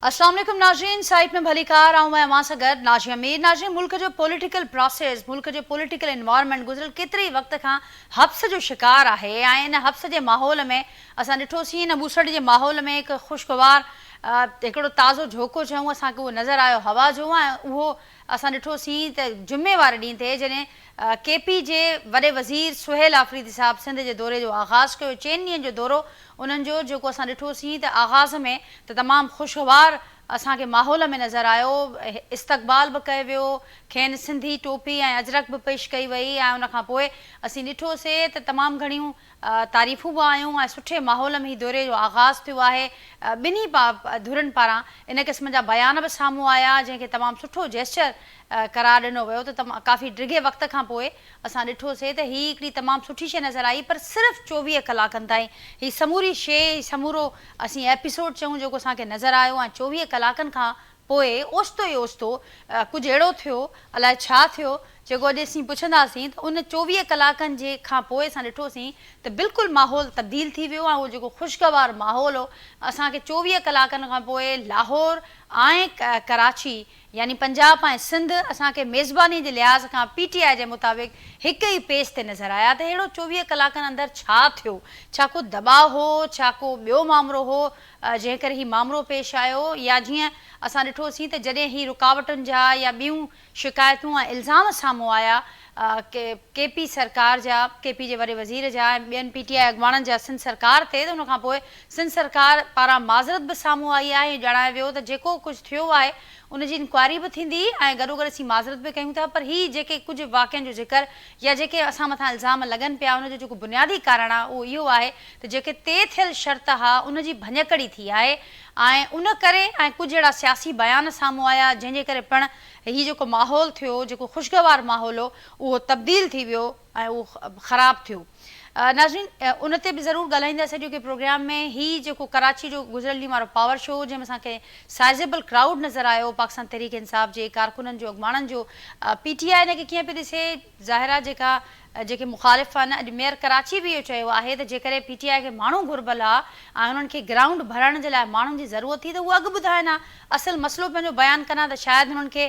السلام عليڪم ناظرين سائيٽ ۾ ڀليڪار آئون ۽ اوهان سان گڏ نازيه مير ناظرين ملڪ جو پوليٽيڪل پراسيس ملڪ جو پوليٽيڪل انوائرمينٽ گذريل ڪيتري ئي وقت کان حبس جو شڪار آهي ۽ ان حبس جي ماحول ۾ اسان ڏٺو سين ان ٻوسڙ جي ماحول ۾ هڪ خوشگوار هڪڙو تازو جهوڪو چئون اسان کي اهو نظر آيو هوا جو ۽ اهو اسان ڏٺو سين ته جمعي واري ڏينهن تي جڏهن ڪي پي جي وڏي وزير سهيل آفريدي صاحب سنڌ جي دوري جو آغاز ڪيو، چئن ڏينهن جو دورو انهن جو جيڪو اسان ڏٺوسين ته آغاز ۾ ته تمام خوشگوار اسان کي ماحول ۾ نظر آيو، استقبال به ڪيو ويو، کين سنڌي ٽوپي ۽ اجرڪ به پيش ڪئي وئي ۽ ان کان پوء اسين ڏٺوسي ته تمام گهڻيون تعريفون به آيون ۽ سٺي ماحول ۾ هي دوري جو آغاز ٿيو آهي، ٻنهي ڌرين پاران ان قسم جا بيان به سامهون آيا جنهن کي تمام سٺو جيسچر قرار ڏنو ويو ته ڪافي ڊگهي وقت کان پوء اسان ڏٺو سي ته هي هڪڙي تمام سٺي شيء نظر آئي پر صرف چوويهه ڪلاڪن تائين هي سموري شيء هي سمورو اسين ايپيسوڊ چئون جيڪو اسان کي نظر آيو ۽ چوويهه ڪلاڪن کان پوء اوچتو ئي اوچتو ڪجهه اهڙو ٿيو، الاء ڇا ٿيو، جيڪو اڄ اسين پڇنداسين ته ان چوويهه ڪلاڪن جي کان پوء اسان ڏٺوسين ته بلڪل ماحول تبديل ٿي ويو ۽ اهو جيڪو خوشگوار ماحول هو، اسان کي چوويهه ڪلاڪن کان پوء لاهور ۽ ڪراچي يعني پنجاب ۽ سنڌ اسان کي ميزباني جي لحاظ کان پي ٽي آء جي مطابق هڪ ئي پيج تي نظر آيا ته اهڙو چوويهه ڪلاڪن اندر ڇا ٿيو، ڇا ڪو دٻاء هو، ڇا ڪو ٻيو مامرو هو، جنهن ڪري هي مامرو پيش آيو يا جيئن اسان ڏٺوسين ته جڏهن هي رڪاوٽن جا يا ٻيون شڪايتون ۽ الزام سامهون آيا ڪي پي سرڪار جا ڪي پي جي وڏي وزير جا ۽ ٻين پي ٽي آء اڳواڻن جا سنڌ سرڪار تي ته ان کان پوء سنڌ سرڪار پاران معذرت به سامهون آئي آهي ۽ ڄاڻايو ويو ته جيڪو ڪجهه ٿيو آهي ان جي انڪوائري به ٿيندي ۽ گڏوگڏ اسين معذرت به ڪيون ٿا پر هي جيڪي ڪجهه واقعن جو ذڪر يا جيڪي اسان مٿان الزام لڳن پيا ان جو جيڪو بنيادي ڪارڻ آهي اهو اهو آهي ته جيڪي طئي ٿيل شرط ها ان جي ڀڃڪڙي ٿي آهي ۽ ان ڪري ۽ ڪجهه اهڙا سياسي بيان سامهون آيا جنهن جي ڪري پڻ هي جيڪو ماحول ٿيو جيڪو خوشگوار ماحول هو اهو تبديل ٿي ويو ۽ اهو خراب ٿيو ناظرين ان تي به ضرور ڳالهائينداسين اڄوڪي پروگرام ۾ هي جيڪو ڪراچي جو گذريل ڏينهن وارو پاور شو هو جنهن ۾ اسان کي سائيزيبل ڪرائوڊ نظر آيو پاڪستان تحريڪ انصاف جي ڪارڪنن جو اڳواڻن جو پي ٽي آء ان کي ڪيئن پئي ڏسي ظاهر آ جيڪا جيڪي مخالف آهن اڄ ميئر ڪراچي به اهو چيو آهي ته جيڪڏهن پي ٽي آء کي ماڻهو گهربل آ ۽ انهن کي گرائونڊ ڀرائڻ جي لاء ماڻهن جي ضرورت ٿي ته هو اڳ ٻڌائن ها اصل مسئلو پنهنجو بيان ڪن ها ته شايد انهن کي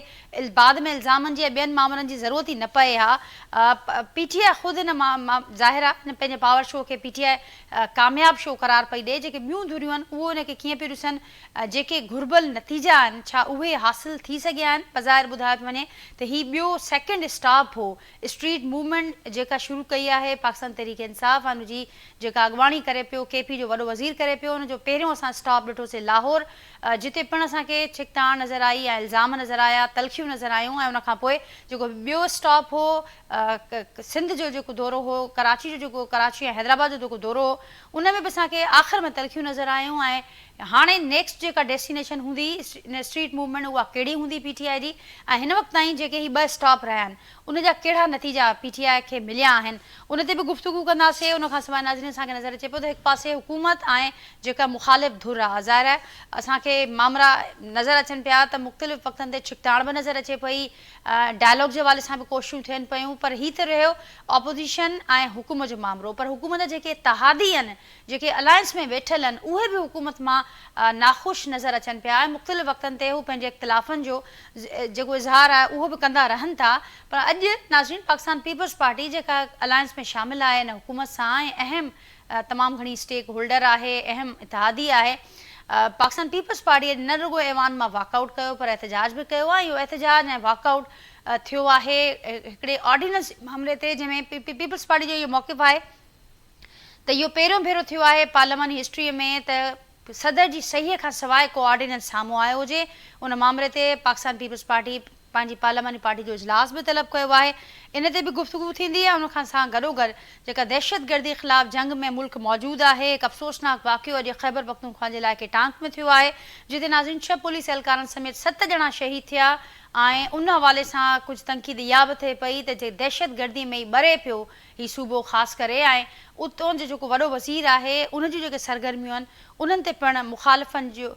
بعد ۾ الزامن جي ۽ ٻين مامرن جي ضرورت ئي نه پئي ها پي ٽي آء خود هن ظاهر آ هن پنهنجي پاور شو کي پي ٽي آء ڪامياب شو قرار پئي ڏئي جيڪي ٻيون ڌريون آهن اهو ان کي ڪيئن پيون ڏسن جيڪي گهربل نتيجا آهن ڇا اهي حاصل ٿي سگهيا آهن؟ بظاهر ٻڌايو ٿو وڃي ته هي ٻيو سيڪنڊ اسٽاپ هو، اسٽريٽ موومينٽ جيڪا شروع ڪئي آهي پاڪستان تحريڪ انصاف ان جي جيڪا اڳواڻي ڪري پيو، ڪي پي جو وڏو وزير ڪري پيو ان جو پهريون اسان اسٽاپ ڏٺو سي لاهور جتي پڻ اسان کي ڇڪتاڻ نظر آئي ۽ الزام نظر آيا تلخيون نظر آيون ۽ ان کان پوء جيڪو ٻيو اسٽاپ هو سنڌ جو جيڪو دورو هو ڪراچي جو جيڪو ڪراچي ۽ حيدرآباد جو جيڪو دورو هو ان ۾ به اسان کي آخر ۾ تلخيون نظر آيون ۽ هاڻي نيڪسٽ جيڪا ڊيسٽينيشن هوندي ان اسٽريٽ موومينٽ اها ڪهڙي هوندي پي ٽي آء جي ۽ هن وقت تائين جيڪي هي ٻه اسٽاپ رهيا آهن ان جا ڪهڙا نتيجا پي ٽي آء کي مليا آهن ان تي به گفتگو ڪنداسي ان کان سواء ناظرين اسان کي نظر اچي پيو ته هڪ پاسي حڪومت ۽ جيڪا مخالف ڌر آهي ظاهر آهي اسان کي مامرا نظر اچن پيا ته مختلف وقتن تي ڇڪتاڻ به نظر اچي پئي ڊائلاگ جي حوالي سان به ڪوششون ٿين پيون پر هي ته رهيو اپوزيشن ۽ حڪومت جو مامرو پر حڪومت جا جيڪي اتحادي آهن جيڪي الائنس ۾ ويٺل آهن اهي به حڪومت مان ناخوش نظر اچن پيا ۽ مختلف وقتن تي هو پنهنجي اختلافن جو جيڪو اظهار آهي اهو به ڪندا رهن ٿا پر اڄ ناظرين پاڪستان پيپلز پارٽي جيڪا الائنس ۾ شامل آهي ان حڪومت سان ۽ اهم تمام گهڻي اسٽيڪ هولڊر آهي اهم اتحادي آهي پاڪستان پيپلز پارٽي اڄ نه رڳو ايوان مان واڪ آئوٽ ڪيو پر احتجاج به ڪيو آهي اهو احتجاج ۽ واڪ آئوٽ ٿيو آهي هڪڙي آرڊيننس معاملي تي جنهن ۾ پيپلز پارٽي جو اهو موقف آهي ته اهو پهريون ڀيرو ٿيو آهي پارلياماني هسٽريء ۾ ته صدر جي صحيح کان سواء ڪو آرڊيننس سامهون آيو هجي. ان مامري تي پاڪستان پيپلز پارٽي پنهنجي پارلياماني پارٽي جو اجلاس به طلب ڪيو آهي. ان تي به گفتگو ٿيندي ۽ ان کان سان گڏوگڏ جيڪا دهشتگردي خلاف جنگ ۾ ملڪ موجود آهي. هڪ افسوسناڪ واقعو اڄ خيبرپختونخوا جي علائقي ٽانڪ ۾ ٿيو آهي جتي ناظرين ڇهه پوليس اهلڪارن سميت ست ڄڻا شهيد ٿيا ۽ ان حوالي سان ڪجهه تنقيد اها به ٿئي پئي ته جي دهشتگردي ۾ ئي ٻري پيو هي صوبو خاص ڪري ۽ اتون جو جيڪو وڏو وزير آهي ان جون جيڪي سرگرميون آهن انهن تي پڻ مخالفن جو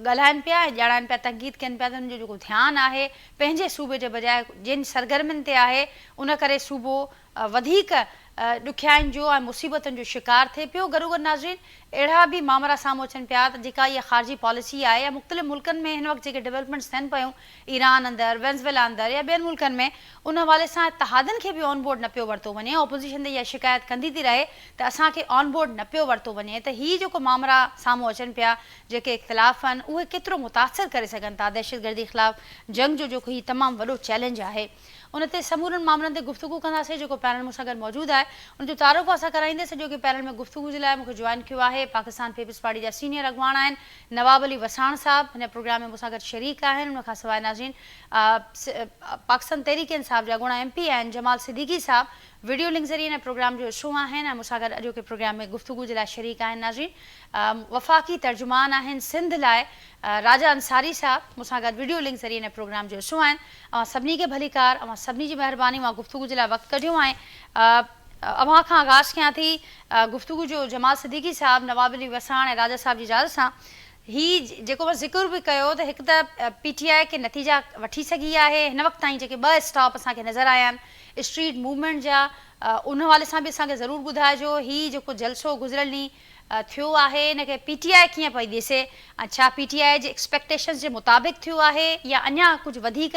ڳالهائن پيا ۽ ڄاڻائن پيا تنقيد ڪين پيا ته انهن جو جيڪو ڌيان آهي پنهنجي صوبي جي بجاء ڄين سرگرمين تي آهي ان ڪري صوبو وڌيڪ ڏکيائين جو ۽ مصيبتن جو شڪار ٿئي پيو گڏوگڏ ناظرين اهڙا به مامرا سامهون اچن پيا ته جيڪا اها خارجي پاليسي آهي يا مختلف ملڪن ۾ هن وقت جيڪي ڊولپمينٽس ٿين پيون ايران اندر، وينزويلا اندر يا ٻين ملڪن ۾ ان حوالي سان اتحادن کي به آن بورڊ نه پيو ورتو وڃي، اپوزيشن ته اها شڪايت ڪندي ٿي رهي ته اسان کي آن بورڊ نه پيو ورتو وڃي ته هي جيڪو مامرا سامهون اچن پيا جيڪي اختلاف آهن اهي ڪيترو متاثر ڪري سگهن ٿا دهشتگردي خلاف جنگ جو جيڪو هي تمام وڏو چئلينج آهي ان تي سمورن مامرن تي گفتگو ڪنداسين جيڪو پينل مون سان گڏ موجود آهي ان جو تعارف اسان ڪرائيندي سڄو ڪي پينل ۾ گفتگو جي لاء مون کي جوائن ڪيو آهي پاڪستان پيپلز پارٽي جا سينيئر اڳواڻ آهن نواب علي وساڻ صاحب هن پروگرام ۾ مون سان گڏ شريڪ آهن ان کان سواء ناظرين پاڪستان تحريڪ انصاف جا اڳوڻا ايم پي آهن جمال صديقي صاحب ويڊيو لنڪ ذريعي هن پروگرام جو حصو آهن ۽ مون سان گڏ اڄوڪي پروگرام ۾ گفتگو جي لاء شريڪ آهن ناظرين وفاقي ترجمان آهن سنڌ لاء راجا انصاري صاحب مون سان گڏ ويڊيو لنڪ ذريعي هن پروگرام جو حصو آهن اوهان سڀني کي ڀليڪار اوهان سڀني جي مهرباني اوهان گفتگو جي لاء وقت ڪڍيو ۽ اوهان کان آغاز ڪيان ٿي گفتگو جو جمال صديقي صاحب، نواب علي وساڻ ۽ راجا صاحب جي زال سان. هي جيڪو اوهان ذڪر به ڪيو ته هڪ ته پي ٽي آء ڪي نتيجا وٺي سگهي آهي، هن وقت تائين جيڪي ٻه اسٽاپ اسان کي نظر آيا آهن اسٽريٽ موومينٽ جا، ان حوالي سان به اسان کي ضرور ٻڌائجو، هي جيڪو جلسو گذريل ڏينهن ٿيو آهي ان کي پي ٽي آء ڪيئن پئي ڏسي ۽ ڇا پي ٽي آء جي ايڪسپيڪٽيشنز جي مطابق ٿيو آهي يا اڃا ڪجهه وڌيڪ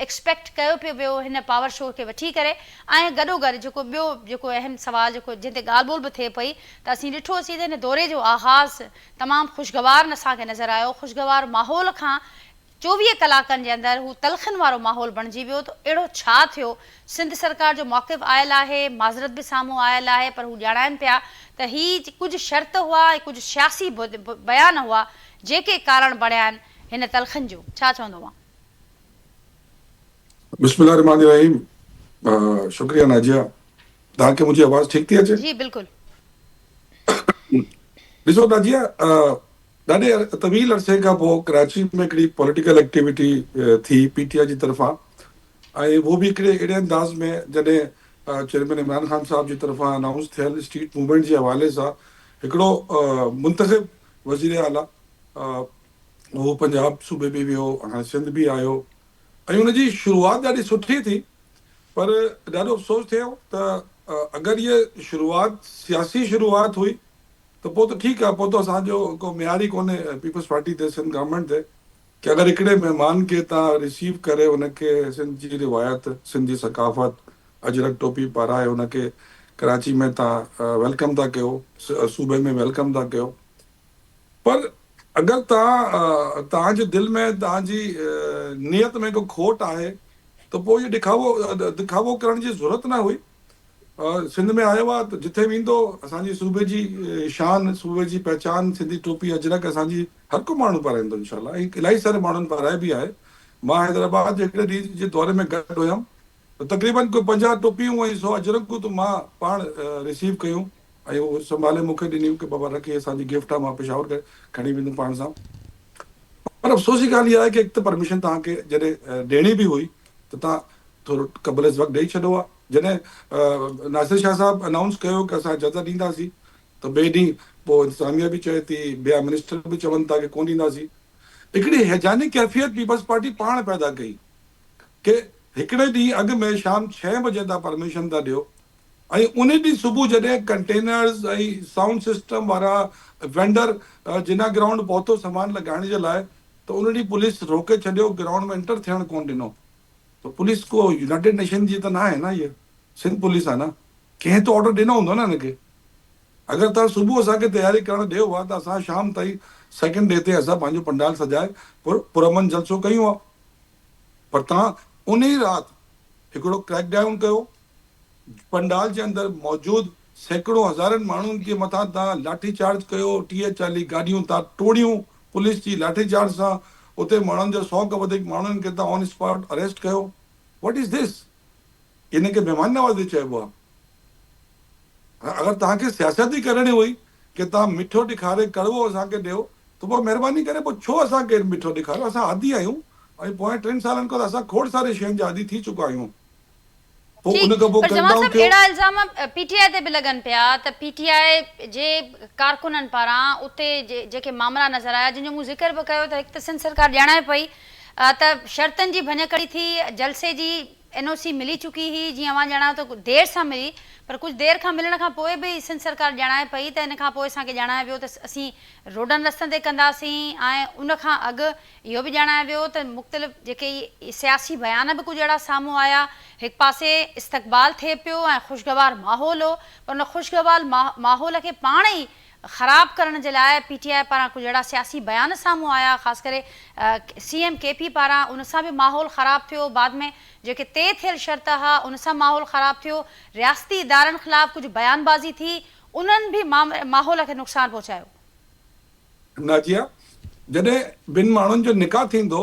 ايڪسپيڪٽ ڪيو پيو ويو هن پاور شو کي وٺي ڪري ۽ گڏو گڏ جيڪو ٻيو جيڪو اهم سوال جيڪو جنهن تي ڳالهه ٻولهه به ٿئي پئي ته اسين ڏٺو سين ته هن دوري جو آغاز تمام خوشگوار اسان کي نظر آيو خوشگوار ماحول کان چوويهه ڪلاڪن جي اندر هو تلخن وارو ماحول بڻجي ويو ته اهڙو ڇا ٿيو، سنڌ سرڪار جو موقف آيل آهي، معذرت به سامهون آيل آهي پر هو ڄاڻائين پيا ته هي ڪجهه شرط هئا ۽ ڪجهه سياسي بيان هئا جيڪي ڪارڻ بڻيا آهن هن تلخن جو، ڇا چوندو اوهان؟ بسم الله الرحمٰن الرحيم شڪريه ناجيه توهان کي منهنجي آواز ٺيڪ ٿي اچي؟ جي بلڪل. ڏسو ناجيه ڏاڍي طويل عرصي کان پوء ڪراچي ۾ هڪڙي پوليٽيڪل ايڪٽيوٽي ٿي پي ٽي آء جي طرفان ۽ اهو به هڪڙي اهڙي انداز ۾ جڏهن چيئرمين عمران خان صاحب جي طرفان انائونس ٿيل اسٽريٽ موومينٽ جي حوالي سان هڪڙو منتخب وزير اعليٰ اهو پنجاب صوبي به ويو هاڻي سنڌ به آيو ۽ ان جي شروعات ڏاڍي سٺي ٿي پر ڏاڍو افسوس ٿيو ته اگر هيء شروعات سياسي شروعات هئي ته پوء ته ٺيڪ آهي، پوء ته اسان جو ڪو ميار ئي ڪونهي پيپلز پارٽي تي، سنڌ گورنمينٽ تي ڪي اگر هڪڙي مهمان کي تان ريسيو ڪري ان کي سنڌ جي روايت، سنڌ جي ثقافت، اجرڪ ٽوپي پارائي ان کي ڪراچي ۾ تان ويلڪم ٿا ڪيو، صوبي ۾ ويلڪم ٿا ڪيو پر اگر تان تان جي دل ۾ تان جي نيت ۾ ڪو کوٽ آهي ته پوء اهو ڏکاوو ڏکاوو ڪرڻ جي ضرورت نه هئي. سنڌ ۾ آيو آ ته جتي ويندو اسان جي صوبي جي شان صوبي جي پهچان سنڌي ٽوپي اجرڪ اسان جي هر ڪو ماڻهو پارائيندو انشاء الله ۽ الائي ساري ماڻهن پارائي به آهي مان حيدرآباد جي هڪڙي ڏينهن جي دوري ۾ گڏ هيم ته تقريبن ڪو پنجاهه ٽوپيون ۽ سو اجرڪون ته مان پاڻ ريسيو ڪيون ۽ هو سنڀالي مون کي ڏنيون ڪي بابا رک هي اسان جي گفٽ آ مان پشاور ڪري کڻي ويندم پاڻ سان پر افسوس جي ڳالهه اها آهي ڪي هڪ ته پرميشن توهان کي جڏهن ڏيڻي به هئي ته تان ٿورو قبل از وقت ڏئي ڇڏو ها. جڏهن ناصر شاهه صاحب انائونس ڪيو ڪه اسان اجازت ڏينداسين ته ٻئي ڏينهن پوء انتظاميه به چئي ٿي ٻيا منسٽر به چون ٿا ڪه ڪون ڏينداسين. هڪڙي هيجاني ڪيفيت پيپلز پارٽي پاڻ پيدا ڪئي ڪه هڪڙي ڏينهن اڳ ۾ شام ڇهين بجي تان پرميشن ٿا ڏيو ۽ انهي ڏينهن صبح جڏهن ڪنٽينرز ۽ سائونڊ سسٽم وارا وينڊر جنا گرائونڊ پهتو سامان لڳائڻ جي لاء ته ان ڏينهن پوليس روڪي ڇڏيو گرائونڊ ۾ انٽر ٿيڻ ڪونه ڏنو ته پوليس ڪو يونائيٽيڊ نيشن جي ته نه آهي نه هيء سنڌ پوليس آهي نه ڪنهن ته آرڊر ڏنو هوندو نه هن کي اگر توهان صبح اسان کي تياري ڪرڻ ڏيو ها ته اسان شام تائين سيڪنڊ ڊي تي اسان پنهنجو پنڊال سجائي پر پرامن جلسو ڪيون ها پر توهان انهي رات هڪڙو ڪريڪ ڊائون ڪيو پنڊال جي اندر موجود سيڪڙو هزارن ماڻهن جي مٿان تان لاٺي چارج ڪيو، ٽيهه چاليهه گاڏيون تان ٽوڙيون، پوليس جي لاٺي چارج سان اتي ماڻهن جو سئو کان وڌيڪ ماڻهن کي تان آن اسپاٽ اريسٽ ڪيو، واٽ از ڌس؟ ان کي مهمان نوازي چئبو آ. اگر توهان کي سياست ئي ڪرڻي هئي ڪي تان مٺو ڏيکاري ڪڙوو اسان کي ڏيو ته پوء مهرباني ڪري پوء ڇو اسان کي مٺو ڏيکاريو، اسان عادي آهيون ۽ پوئين ٽن سالن کان ته اسان کوڙ ساري شين جا عادي ٿي چڪا آهيون. پوء ان کان پوء ڪٽ ڊائون ٿيو. پر جوان صاحب اهڙا الزام پي ٽي آء تي به لڳن پيا ته پي ٽي آء جي ڪارڪنن پاران اتي جيڪي مامرا نظر آيا جن جو مون ذڪر به ڪيو ته هڪ ته سنڌ سرڪار ڄاڻائي پئي ته شرطن جي ڀڃڪڙي ٿي جلسي جي اين او سي ملي چڪي هئي جيئن اوهان ڄاڻايو ته دير سان ملي پر ڪجهه دير کان ملڻ کان پوء به سنڌ سرڪار ڄاڻائي پئي ته ان کان پوء اسان کي ڄاڻايو ويو ته اسين روڊن رستن تي ڪنداسين ۽ ان کان اڳ اهو به ڄاڻايو ويو ته مختلف جيڪي سياسي بيان به ڪجهه اهڙا سامهون آيا، هڪ پاسي استقبال ٿئي پيو ۽ خوشگوار ماحول هو پر ان خوشگوار ماحول کي پاڻ ئي خراب ڪرڻ جي لاء پي ٽي آء پاران ڪجهه اهڙا سياسي بيان سامهون آيا خاص ڪري سي ايم ڪي پي پاران ان سان به ماحول خراب ٿيو بعد ۾ جيڪي طئي ٿيل شرط هئا ان سان ماحول خراب ٿيو رياستي ادارن خلاف ڪجهه بيان بازي ٿي انهن به ماحول کي نقصان پهچايو. نازيه، جڏهن ٻن ماڻهن جو نڪاح ٿيندو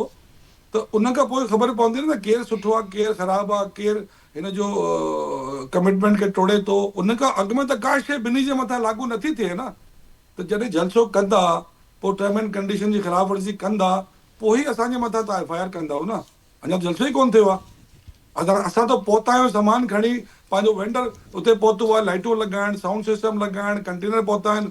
ته ان کان پوء خبر پوندي نه ته ڪير سٺو آ ڪير خراب آ ڪير هن جو ڪمٽمينٽ کي ٽوڙي ٿو ان کان اڳ ۾ ته ڪا شيء ٻنهي جي مٿان لاڳو نٿي ٿئي نه ته جڏهن جلسو ڪندا پوء ٽرم اينڊ ڪنڊيشن جي خلاف ورزي ڪندا پوء ئي اسان جي مٿان تهان ايف آء آر ڪندؤ نه اڃا ته جلسو ئي ڪونه ٿيو آ اگر اسان ته پهتا آهيون سامان کڻي پنهنجو وينڊر اتي پهتو آ لائيٽون لڳائڻ سائونڊ سسٽم لڳائڻ ڪنٽينر پهتا آهن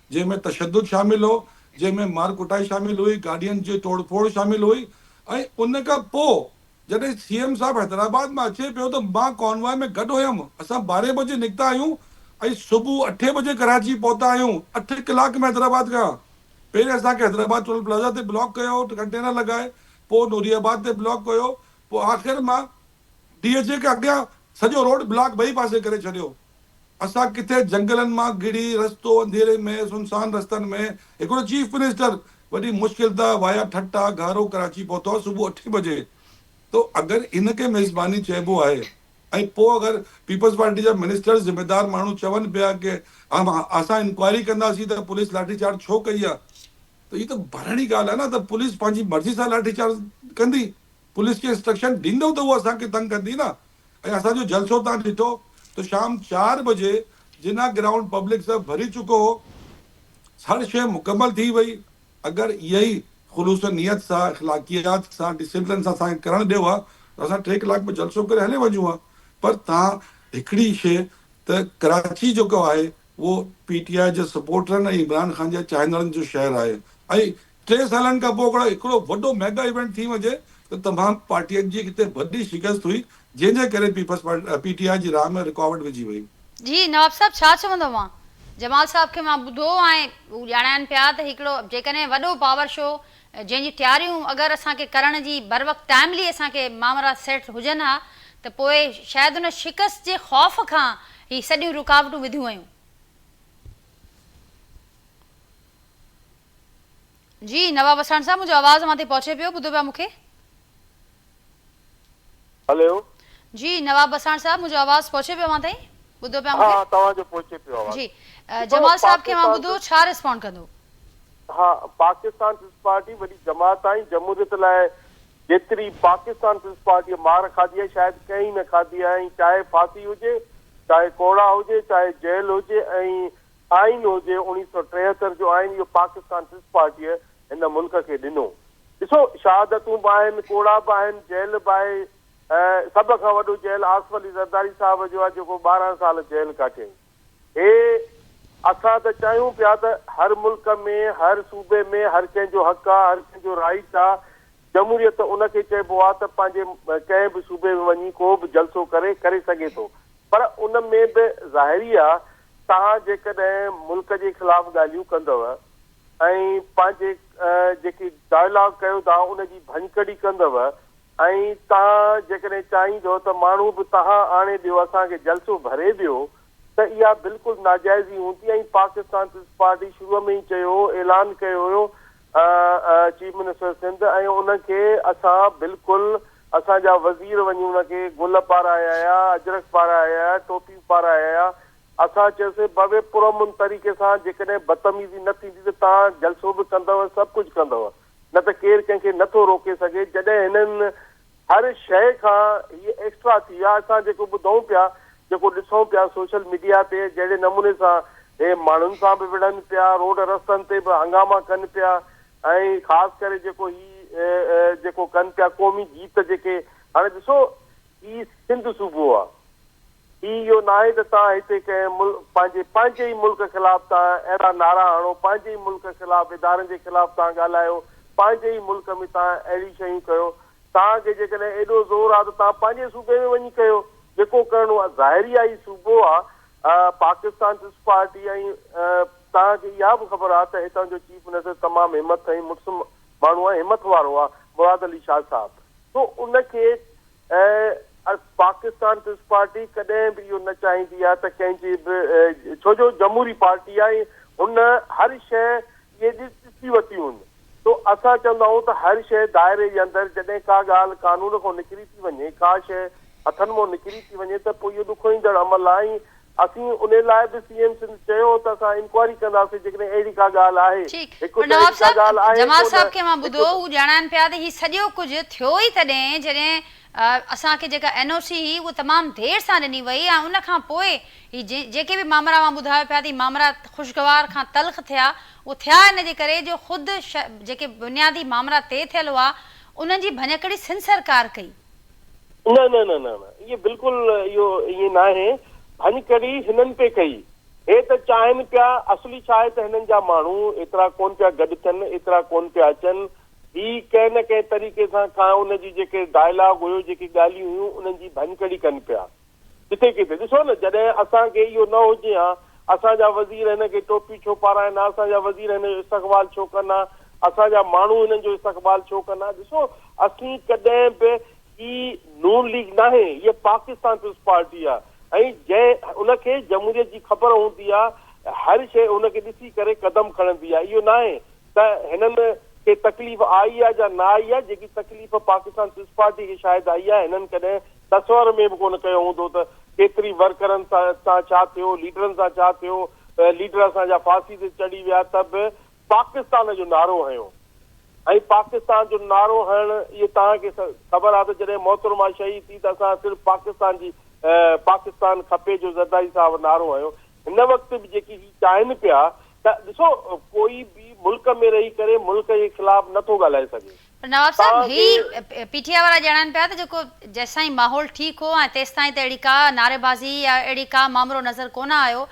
جنهن ۾ تشدد شامل هو، جنهن ۾ مار ڪٽائي شامل هئي، گاڏين جي ٽوڙ ڦوڙ شامل هئي ۽ ان کان پوء جڏهن سي ايم صاحب حيدرآباد مان اچي پيو ته مان ڪانوائي ۾ گڏ هيم، اسان ٻارهين بجي نڪتا آهيون ۽ صبح اٺين بجي ڪراچي پهتا آهيون، اٺ ڪلاڪ ۾ حيدرآباد کان پهرين اسان کي حيدرآباد ٽول پلازا تي بلاڪ ڪيو، ڪنٽينر لڳائي، پوء نوري آباد تي بلاڪ ڪيو، پوء آخر مان ڊي ايڇ اي کي اڳيان سڄو روڊ بلاڪ ٻئي پاسي ڪري ڇڏيو. اسان ڪٿي جهنگلن مان گهڙي رستو انڌيري ۾ سنسان رستن ۾ هڪڙو چيف منسٽر وڏي مشڪل ته وايا ٺٽا گهارو ڪراچي پهتو صبح اٺين بجي ته اگر ان کي ميزباني چئبو آهي ۽ پوء اگر پيپلز پارٽي جا منسٽر ذميدار ماڻهو چون پيا ڪي اسان انڪوائري ڪنداسين ته پوليس لاٺي چارج ڇو ڪئي آهي ته هي ته ڀرڻي ڳالهه آهي نه ته پوليس پنهنجي مرضي سان لاٺي چارج ڪندي. پوليس کي انسٽرڪشن ڏيندؤ ته هوء اسان کي تنگ ڪندي نه ۽ اسان جو جلسو تان ڏٺو ته شام چار بجي جناح گرائونڊ پبلڪ سان ڀري چڪو هو هر شيء مڪمل ٿي وئي اگر اهي ئي خلوص نيت سان اخلاقيات سان ڊسپلن سان اسان کي ڪرڻ ڏيو ها ته اسان ٽي ڪلاڪ ۾ جلسو ڪري هلي وڃون ها پر توهان هڪڙي شيء ته ڪراچي جيڪو آهي اهو پي ٽي آء جي سپورٽرن ۽ عمران خان جي چاهندڙن جو شهر آهي ۽ ٽي سالن کان پوء اگر هڪڙو وڏو ميگا ايونٽ ٿي وڃي ته تمام پارٽين جي اتي وڏي شڪست هئي جنهن جي ڪري peoples party, P T I, جي راهه ۾ رڪاوٽ وجهي وئي. جي نواب صاحب ڇا چوندو اوهان؟ جمال صاحب کي مان ٻڌو ۽ هو ڄاڻائين پيا ته هڪڙو جيڪڏهن وڏو پاور شو جنهن جي تياريون اگر اسان کي ڪرڻ جي بروقت ٽائملي اسان کي مامرا سيٽ هجن ها ته پوء شايد ان شڪست جي خوف کان هي سڄيون رڪاوٽون وڌيون ويون. جي نواب وساڻ صاحب منهنجو آواز اوهان تائين پهچي پيو ٻڌو پيا مون کي. هليو. جي نواب وساڻ صاحب منهنجو آواز پهچي پيو اوهان تائين ٻڌو پيا مون کي. ها توهان جو پهچي پيو آواز. جي جمال صاحب کي اوهان ٻڌو ڇا ريسپونڊ ڪندو. ها پاڪستان پيپلز پارٽي وڏي جماعت آهي جمهوريت لاء جيتري پاڪستان پيپلز پارٽي مار کاڌي آهي شايد ڪنهن نه کاڌي آهي ۽ چاهي ڦاسي هجي چاهي ڪوڙا هجي چاهي جيل هجي ۽ آئين هجي اڻيهه سؤ ٽيهتر جو آئين اهو پاڪستان پيپلز پارٽيء هن ملڪ کي ڏنو. ڏسو شهادتون به آهن، ڪوڙا به آهن، جيل به آهي ۽ سڀ کان وڏو جيل آصف علي زرداري صاحب جو آهي جيڪو ٻارهن سال جيل ڪاٽيائين. هي اسان ته چاهيون پيا ته هر ملڪ ۾ هر صوبي ۾ هر ڪنهن جو حق آ، هر ڪنهن جو رائيٽ آ، جمهوريت ان کي چئبو آ ته پنهنجي ڪنهن به صوبي ۾ وڃي ڪو به جلسو ڪري ڪري سگهي ٿو پر ان ۾ به ظاهري آ توهان جيڪڏهن ملڪ جي خلاف ڳالهيون ڪندؤ ۽ پنهنجي جيڪي ڊائلاگ ڪيو ٿا ان جي ڀڃڪڙي ڪندؤ ۽ توهان جيڪڏهن چاهيندؤ ته ماڻهو به توهان آڻي ڏيو اسان کي جلسو ڀري ڏيو ته اها بلڪل ناجائز ئي هوندي ۽ پاڪستان پيپلز پارٽي شروع ۾ ئي چيو هو اعلان ڪيو هيو چيف منسٽر سنڌ ۽ ان کي اسان بلڪل اسان جا وزير وڃي ان کي گل پارايايا اجرڪ پارايايا ٽوپيون پارايايا اسان چيوسي بابي پر امن طريقي سان جيڪڏهن بدتميزي نه ٿيندي ته توهان جلسو به ڪندو سڀ ڪجهه ڪندو نه ته ڪير ڪنهن کي نه ٿو روڪي سگهي جڏهن هنن هر شيء کان هيء ايڪسٽرا ٿي ويا، اسان جيڪو ٻڌون پيا، جيڪو ڏسون پيا سوشل ميڊيا تي جهڙي نموني سان هي ماڻهن سان به وڙهن پيا، روڊ رستن تي به هنگاما ڪن پيا ۽ خاص ڪري جيڪو هي جيڪو ڪن پيا قومي گيت جيڪي هاڻي ڏسو هي سنڌ صوبو آ. هي اهو ناهي ته توهان هتي ڪنهن ملڪ پنهنجي پنهنجي ئي ملڪ خلاف توهان اهڙا نعرا هڻو پنهنجي ئي ملڪ خلاف ادارن جي خلاف توهان ڳالهايو پنهنجي ئي ملڪ ۾ توهان اهڙي شيون ڪيو توهان کي جيڪڏهن ايڏو زور آ ته توهان پنهنجي صوبي ۾ وڃي ڪيو جيڪو ڪرڻو آ ظاهري آ هي صوبو آ پاڪستان پيپلز پارٽي ۽ توهان کي اها به خبر آ ته هتان جو چيف منسٽر تمام همٿ ۽ مڙس ماڻهو آ همٿ وارو آ مراد علي شاهه صاحب سو ان کي ۽ پاڪستان پيپلز پارٽي ڪڏهن به اهو نه چاهيندي آهي ته ڪنهن جي به ڇو جو جمهوري پارٽي آهي هن هر شيء اهي ڏسي ورتيون آهن سو اسان چوندا آهيون ته هر شيء دائري جي اندر جڏهن ڪا ڳالهه قانون کان نڪري ٿي وڃي ڪا شيء هٿن مان نڪري ٿي وڃي ته پوء اهو ڏکوئيندڙ عمل آهي ۽ اسين انهي لاء به سي ايم سنڌ چيو هو ته اسان انڪوائري ڪنداسين جيڪڏهن اهڙي ڪا ڳالهه آهي. ٺيڪ هڪ پر ته نواب اهڙي ڪا صاحب ڳالهه آهي جمال ڪو صاحب نه کي مان هڪ ٻڌو ته. هو ڄاڻائن پيا ته هي سڄو ڪجهه ٿيو ئي تڏهن جڏهن اسان کي جيڪا اين او سي هئي اهو تمام دير سان ڏني وئي ۽ ان کان پوء هي جي جيڪي به مامرا اوهان ٻڌايو پيا ته هي مامرا خوشگوار کان تلخ ٿيا اهو ٿيا ان جي ڪري جو خود ش جيڪي بنيادي مامرا طئي ٿيل هئا انهن جي ڀڃڪڙي سنڌ سرڪار ڪئي. نه نه نه نه نه اهي بلڪل اهو ائين ناهي ڀڃ ڪڙي هنن پئي ڪئي هي ته چاهين پيا اصلي ڇا آهي ته هنن جا ماڻهو ايترا ڪون پيا گڏ ٿين ايترا ڪون پيا اچن هي ڪنهن نه ڪنهن طريقي سان ڪا ان جي جيڪي ڊائلاگ هيو جيڪي ڳالهيون هيون انهن جي ڀڃ ڪڙي ڪن پيا جتي ڪٿي ڏسو نه جڏهن اسان کي اهو نه هجي ها اسان جا وزير هن کي ٽوپي ڇو پارائين ها اسان جا وزير هن جو استقبال ڇو ڪن ها اسان جا ماڻهو هنن جو استقبال ڇو ڪن ها ڏسو اسين ڪڏهن به هي نون ليگ ناهي هيء پاڪستان پيپلز پارٽي آهي ۽ جنهن ان کي جمهوريت جي خبر هوندي آهي هر شيء ان کي ڏسي ڪري قدم کڻندي آهي اهو ناهي ته هنن کي تڪليف آئي آهي جا نه آئي آهي جيڪي تڪليف پاڪستان پيپلز پارٽي کي شايد آئي آهي هنن ڪڏهن تصور ۾ به ڪونه ڪيو هوندو ته ڪيتري ورڪرن سان ڇا ٿيو، ليڊرن سان ڇا ٿيو، ليڊر اسان جا ڦاسي تي چڙهي ويا ته به پاڪستان جو نعرو هنيو ۽ پاڪستان جو نعرو هڻڻ اهي توهان کي خبر آهي ته جڏهن محترمه شهيد ٿي ته اسان صرف پاڪستان جي پاڪستان کپي جو زرداري صاحب نعرو هنيو هن وقت به جيڪي هي چاهين پيا ته ڏسو ڪوئي به ملڪ ۾ رهي ڪري ملڪ جي خلاف نه ٿو ڳالهائي سگهي. نواب صاحب هي پي ٽي آء وارا ڄاڻائن پيا ته جيڪو جيسين ماحول ٺيڪ هو ۽ تيستائين ته اهڙي ڪا نعري بازي يا اهڙي ڪا مامرو نظر ڪونه آيو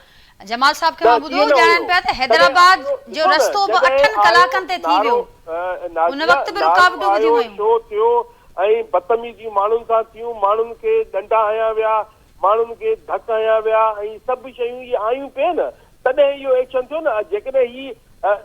جمال صاحب کي مان ٻڌو ڄاڻائن پيا ته حيدرآباد جو رستو به اٺن ڪلاڪن تي ٿي ويو ان وقت به رڪاوٽون وڌيون ويون. شو ٿيو ۽ بتميزيون ماڻهن سان ٿيون ماڻهن کي ڏنڊا هنيا ويا ماڻهن کي ڌڪ هنيا ويا ۽ سڀ شيون اهي آيون پي نه تڏهن اهو ايڪشن ٿيو نه جيڪڏهن هي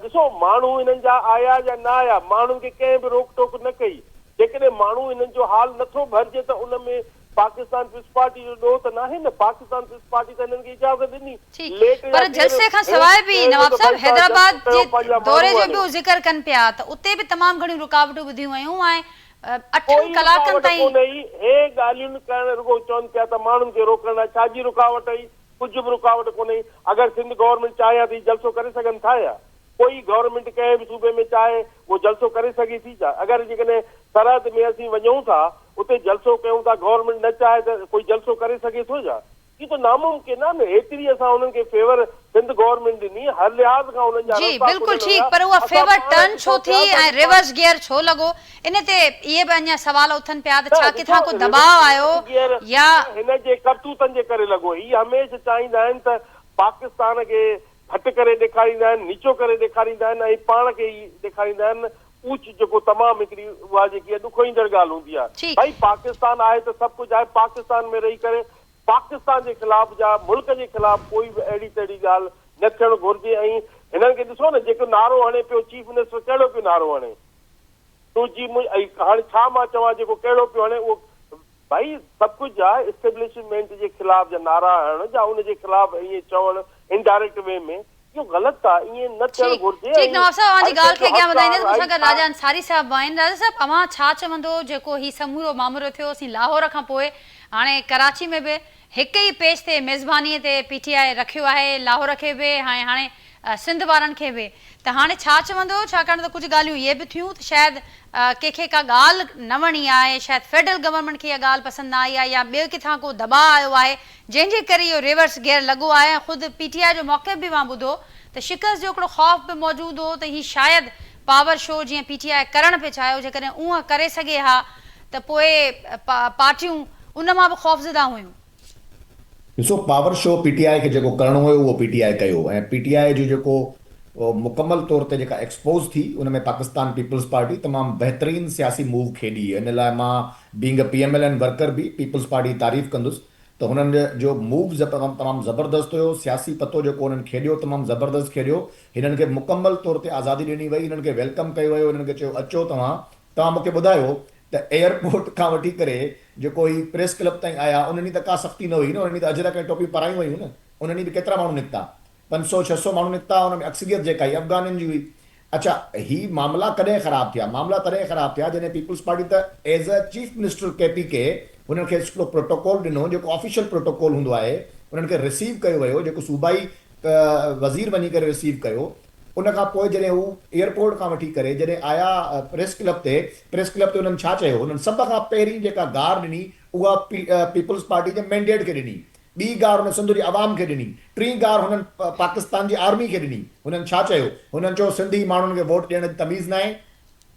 ڏسو ماڻهو هنن جا آيا يا نه آيا ماڻهن کي ڪنهن به روڪ ٽوڪ نه ڪئي جيڪڏهن ماڻهو هنن جو حال نٿو ڀرجي ته ان ۾ پاڪستان پيپلز پارٽي جو ڏوهه ته ناهي نه پاڪستان پيپلز پارٽي ته هنن کي اجازت ڏني ليٽ يا پر جلسي کان سواء به نواب صاحب حيدرآباد جي دوري جو به ذڪر ڪن پيا ته اتي به تمام گهڻيون رڪاوٽون ٻڌيون ويون ۽ اٺن ڪلاڪن تائين. ڪوئي رڪاوٽ ڪونهي ئي. هي ڳالهيون ڪرڻ رڳو چون پيا ته ماڻهن کي روڪڻ لاء ڇا جي رڪاوٽ ئي؟ ڪجهه به رڪاوٽ ڪونهي ئي. اگر سنڌ گورنمينٽ چاهي ها ته هي جلسو ڪري سگهن ٿا ڇا؟ ڪوئي گورنمينٽ ڪنهن به صوبي ۾ چاهي اهو جلسو ڪري سگهي ٿي ڇا؟ اگر جيڪڏهن سرحد ۾ اسين وڃون ٿا اتي جلسو ڪيون ٿا گورنمينٽ نه چاهي ته ڪوئي جلسو ڪري سگهي ٿو ڇا؟ اهو ته ناممڪن آهي نه هيتري اسان انهن کي فيور سنڌ گورنمينٽ ڏني هر لحاظ کان انهن جا جي رستا بلڪل کليل ٺيڪ هيا پر اها اسان فيور پاڻ ٽرن ڇو ڏسو ٿي ٿيا ۽ ساڳي پا. ريورس گيئر ڇو لڳو ان تي اهي به اڃان سوال اٿن پيا ته نه ڇا ڏسو ڪٿان ڪو دٻاء ريورس آيو ريورس گيئر يا ته هن جي ڪرتوتن جي ڪري لڳو هي هميشه چاهيندا آهن ته پاڪستان کي گهٽ ڪري ڏيکاريندا آهن نيچو ڪري ڏيکاريندا آهن ۽ پاڻ کي ئي ڏيکاريندا آهن اوچ جيڪو تمام هڪڙي اها جيڪي ڏکوئيندڙ ڳالهه هوندي آهي جي. ڀائي پاڪستان آهي ته سڀ ڪجهه آهي پاڪستان ۾ رهي ڪري پاڪستان جي خلاف جا ملڪ جي خلاف ڪوئي به اهڙي تهڙي ڳالهه نه ٿيڻ گهرجي ۽ هنن کي ڏسو نه جيڪو نعرو هڻي پيو چيف منسٽر ڪهڙو پيو نعرو هڻي تو جي مون هاڻي ڇا مان چوان جيڪو ڪهڙو پيو هڻي اهو ڀائي سڀ ڪجهه جا اسٽيبلشمينٽ جي خلاف جا نعرا هڻڻ جا ان جي خلاف ائين چوڻ انڊائريڪٽ وي ۾ اهو غلط ٿا ائين نه ٿيڻ ٺيڪ گهرجي ٺيڪ نواب صاحب اوهان جي ڳالهه کي اڳيان وڌائيندي مون سان گڏ راجا انصاري صاحب به آهن راجا صاحب اوهان ڇا چوندو جيڪو هي سمورو مامرو ٿيو اسين لاهور کان پوء هاڻي ڪراچي ۾ به هڪ ئي پيج تي ميزباني تي پي ٽي آء رکيو آهي لاهور کي به هاي هاڻي سنڌ وارن کي به ته هاڻي ڇا چوندو ڇاڪاڻ ته ڪجهه ڳالهيون اهي به ٿيون ته شايد ڪنهن کي ڪا ڳالهه نه وڻي آهي شايد فيڊرل گورنمينٽ کي اها ڳالهه پسند نه آئي آهي يا ٻي ڪٿان ڪو دٻاء آيو آهي جنهن جي ڪري اهو ريورس گيئر لڳو آهي ۽ خود پي ٽي آء جو موقف به مان ٻڌو ته شڪست جو هڪڙو خوف به موجود هو ته هي شايد پاور شو جيئن پي ٽي آء ڪرڻ پئي چاهيو جيڪڏهن اونهن ڪري سگهي ها ته پوء پارٽيون ان مان به خوفزده هيون. ڏسو power show P T I کي جيڪو ڪرڻو هيو اهو پي ٽي آء ڪيو ۽ پي ٽي آء جو جيڪو مڪمل طور تي جيڪا ايڪسپوز ٿي ان ۾ پاڪستان پيپلز پارٽي تمام بهترين سياسي موو کيڏي ان لاء مان being a P M L N worker به پيپلز پارٽي جي تعريف ڪندس ته هنن جو مووز تمام زبردست هيو، سياسي پتو جيڪو هنن کيڏيو تمام زبردست کيڏيو، هنن کي مڪمل طور تي آزادي ڏني وئي، هنن کي ويلڪم ڪيو ويو، هنن کي چيو اچو توهان، توهان مون کي ٻڌايو ته ايئرپورٽ کان وٺي ڪري جيڪو هي پريس ڪلب تائين آيا انهن ڏينهن ته ڪا سختي نه هئي نه، انهن ڏينهن ته اجرڪ ۽ ٽوپيون پارايون ويون نه، انهن ڏينهن به ڪيترا ماڻهو نڪتا پنج سؤ ڇهه سؤ ماڻهو نڪتا، ان ۾ اڪثريت جيڪا هئي افغانين جي هئي، اڇا هي معاملا ڪڏهن خراب ٿيا؟ معاملا تڏهن خراب ٿيا جڏهن پيپلز پارٽي ته ايز اي چيف منسٽر ڪي پي ڪي هنن کي هڪڙو پروٽوڪول ڏنو جيڪو آفيشل پروٽوڪول هوندو آهي انهن کي رسيو ڪيو ويو جيڪو صوبائي وزير وڃي ڪري رسيو ڪيو ان کان پوء جڏهن هو ايئرپورٽ کان وٺي ڪري جڏهن آيا پريس ڪلب تي پريس ڪلب تي انهن ڇا چيو انهن سڀ کان پهرين جيڪا گار ڏني اها پيپلز پارٽي جي مينڊيٽ کي ڏني ٻي گار هن سنڌ جي عوام کي ڏني. ٽين گار هنن پاڪستان جي آرمي کي ڏني. هنن ڇا چيو؟ هنن چيو سنڌي ماڻهن کي ووٽ ڏيڻ جي تميز ناهي.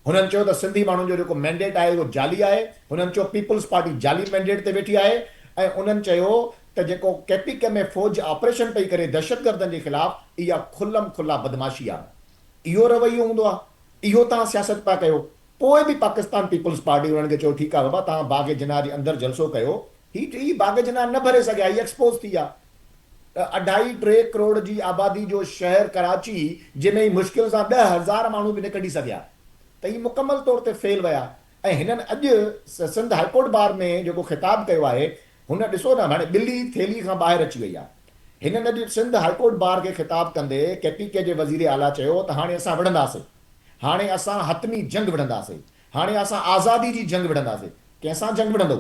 هنن چيو ته سنڌي ماڻهن جو جيڪو مينڊيٽ آهي اهو جعلي آهي. هنن چيو پيپلز پارٽي جعلي مينڊيٽ تي ويٺي آهي ۽ انهن چيو ته جيڪو ڪي پي ڪي ۾ فوج آپريشن پئي ڪري دهشتگردن جي خلاف اها کلم کلا بدمعاشي آهي. اهو رويو هوندو آهي. اهو توهان سياست پيا ڪيو. پوء به پاڪستان پيپلز پارٽي انهن کي چيو ٺيڪ آهي بابا توهان باغ جناح جي اندر جلسو ڪيو هي ٽي باغ جناح نه ڀري سگهيا هي ايڪسپوز ٿي ويا ته اڍائي ٽي ڪروڙ جي آبادي جو شهر ڪراچي جنهن ۾ هي مشڪل سان ڏهه هزار ماڻهو به نه ڪڍي سگهيا ته هي مڪمل طور تي فيل ويا ۽ هنن اڄ سنڌ هاء ڪورٽ بار ۾ جيڪو خطاب ڪيو آهي هن ڏسو نه هاڻي ٻلي ٿيلهي کان ٻاهر اچي وئي آهي هنن اڄ سنڌ هاء ڪورٽ بار کي خطاب ڪندي ڪي پي ڪي جي وزير اعليٰ چيو ته هاڻي اسان وڙهنداسين. هاڻي اسان حتمي جنگ وڙهنداسي، هاڻي اسان آزادي جي جنگ وڙهنداسي. ڪنهن سان جنگ وڙهندؤ؟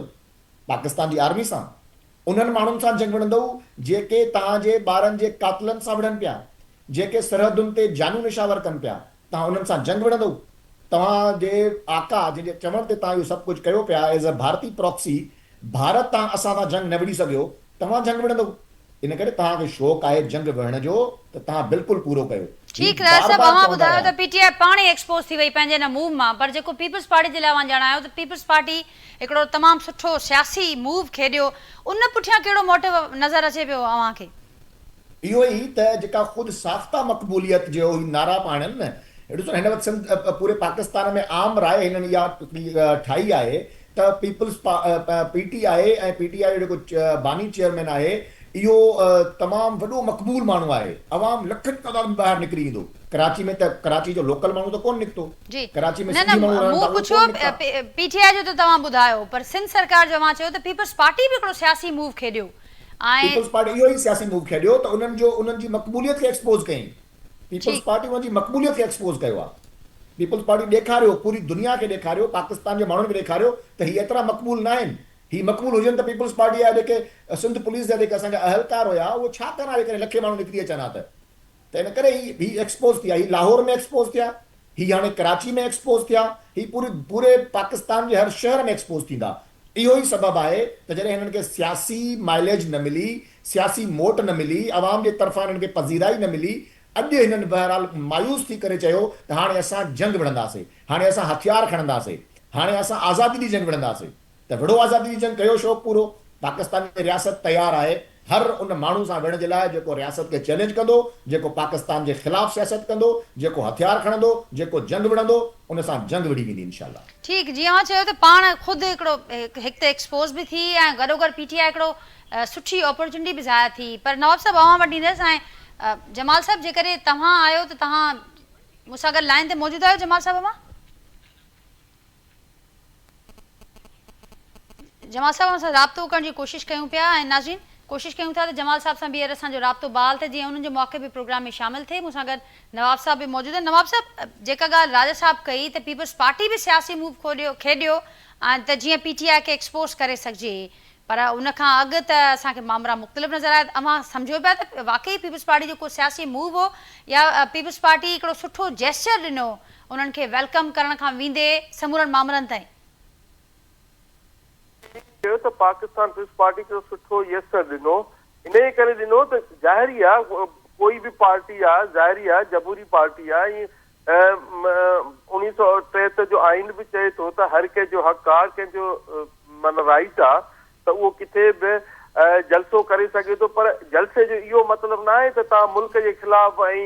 پاڪستان جي آرمي سان؟ انهن ماڻهن سان جنگ وڙهندؤ جيڪي توهان جي ٻارن جي قاتلن سان وڙهن پيا، جيڪي سرحدن تي جانون نشاور ڪن پيا، توهان انهن سان جنگ وڙهندؤ؟ توهان جي آقا جنهن جي چوڻ تي توهان اهو سڀ ڪجهه ڪيو پيا، ايز اي ڀارتي پراڪسي، ڀارت تان اسان سان جنگ نه وڙهي سگهيو، توهان جنگ وڙهندؤ؟ ان ڪري توهان کي شوق آهي جنگ وڙهڻ جو ته توهان بلڪل پورو ڪيو. هي ٺيڪ رحه بار صاحب بار اوهان چوندا ٻڌايو رهيا. ته پي ٽي آء پاڻ ئي ايڪسپوز ٿي وئي پنهنجي ان موو مان پر جيڪو پيپلز پارٽي جي لاء اوهان ڄاڻايو ته پيپلز پارٽي هڪڙو تمام سٺو سياسي موو کيڏيو ان پٺيان ڪهڙو موٽو نظر اچي پيو اوهان کي؟ اهو ئي ته جيڪا خود ساخته مقبوليت جو هي نعرا پاڻن ڏسو ته هن وقت سنڌ پوري پاڪستان ۾ عام راء هنن اها ٺاهي آهي ته پيپلز پا پي ٽي آء اي ۽ پي ٽي آء جو جيڪو باني چيئرمين آهي اهو تمام وڏو مقبول ماڻهو آهي عوام لکن جي تعداد ۾ ٻاهر نڪري ايندو ڪراچي ۾ ته ڪراچي جو لوڪل ماڻهو ته ڪون نڪتو جي ڪراچي ۾ نه نه سنڌي ماڻهو رهن مون ٿا اهي پڇيو ڪون نڪتا. پي ٽي آء جو ته توهان ٻڌايو پر سنڌ سرڪار جو اوهان چيو ته پيپلز پارٽي به هڪڙو سياسي موو کيڏيو ۽ پيپلز پارٽي اهو ئي سياسي موو کيڏيو ته انهن جو انهن جي مقبوليت کي ايڪسپوز ڪيائين پيپلز پارٽي ان جي مقبوليت کي ايڪسپوز ڪيو آهي. پيپلز پارٽي ڏيکاريو، پوري دنيا کي ڏيکاريو، پاڪستان جي ماڻهن کي ڏيکاريو ته هي ايترا مقبول ناهن. هي مقبول هجن ته پيپلز پارٽي جا جيڪي سنڌ پوليس جا جيڪي اسان جا اهلڪار هيا اهي ڇا ڪن ها جيڪڏهن لکين ماڻهو نڪري اچن ها ته. ته ان ڪري هي هي ايڪسپوز ٿي ويا. هي لاهور ۾ ايڪسپوز ٿيا، هي هاڻي ڪراچي ۾ ايڪسپوز ٿيا، هي پوري پوري پاڪستان جي هر شهر ۾ ايڪسپوز ٿيندا. اهو ئي سبب آهي ته جڏهن هنن کي سياسي مائليج نه ملي، سياسي موٽ نه ملي، عوام جي طرفان هنن کي پذيرائي نه ملي، اڄ هنن بهرحال مايوس ٿي ڪري چيو ته هاڻي اسان جنگ وڙهنداسين، هاڻي اسان هٿيار کڻنداسين، هاڻي اسان آزادي جي جنگ وڙهنداسين. ته وڙهو آزادي جي جنگ، ڪيو شوق پورو، پاڪستان جي رياست تيار آهي هر ان ماڻهو سان ويهڻ جي لاء جيڪو رياست کي چئلينج ڪندو، جيڪو پاڪستان جي خلاف سياست ڪندو، جيڪو هٿيار کڻندو، جيڪو جنگ وڙهندو، ان سان جنگ وڙهي ويندي انشاء الله. ٺيڪ جيئن اوهان چيو ته پاڻ خود هڪڙو هڪ ته ايڪسپوز به ٿي ۽ گڏوگڏ پي ٽي آء هڪڙو سٺي اپورچونٽي به ظاهر ٿي پر نواب صاحب اوهان وٽ ايندس ۽ جمال صاحب جيڪڏهن توهان آهيو ته توهان مون سان گڏ لائين تي موجود آهيو جمال صاحب اوهان جمال صاحب اوهان سان رابطو ڪرڻ جي ڪوشش ڪيون پيا ۽ ناظرين ڪوشش ڪيون ٿا ته جمال صاحب سان ٻيهر اسان جو رابطو بحال ٿئي جيئن انهن جو موقع به پروگرام ۾ شامل ٿئي مون سان گڏ نواب صاحب به موجود آهن نواب صاحب جيڪا ڳالهه راجا صاحب ڪئي ته پيپلز پارٽي به سياسي موو کيڏيو ۽ ته جيئن پي ٽي آء کي ايڪسپوز ڪري سگهجي پر ان کان اڳ ته اسان کي مامرا مختلف نظر آيا ته اوهان سمجهو پيا ته واقعي پيپلز پارٽي جو ڪو سياسي موو هو يا پيپلز پارٽي هڪڙو سٺو جيسچر ڏنو انهن کي ويلڪم ڪرڻ کان ويندي سمورن مامرن تائين. ڪنهن چيو ته پاڪستان پيپلز پارٽي هڪڙو سٺو يسچر ڏنو انهي ڪري ڏنو ته ظاهري آ ڪوئي به پارٽي آ ظاهري آ جمهوري پارٽي آ ائين انهيء سؤ ٽيهٺ جو آئين به چئي ٿو ته هر ڪنهن جو حق آ، ڪنهن جو معنيٰ رائيٽ آ ته اهو ڪٿي به جلسو ڪري سگهي ٿو پر جلسي جو اهو مطلب ناهي ته توهان ملڪ جي خلاف ۽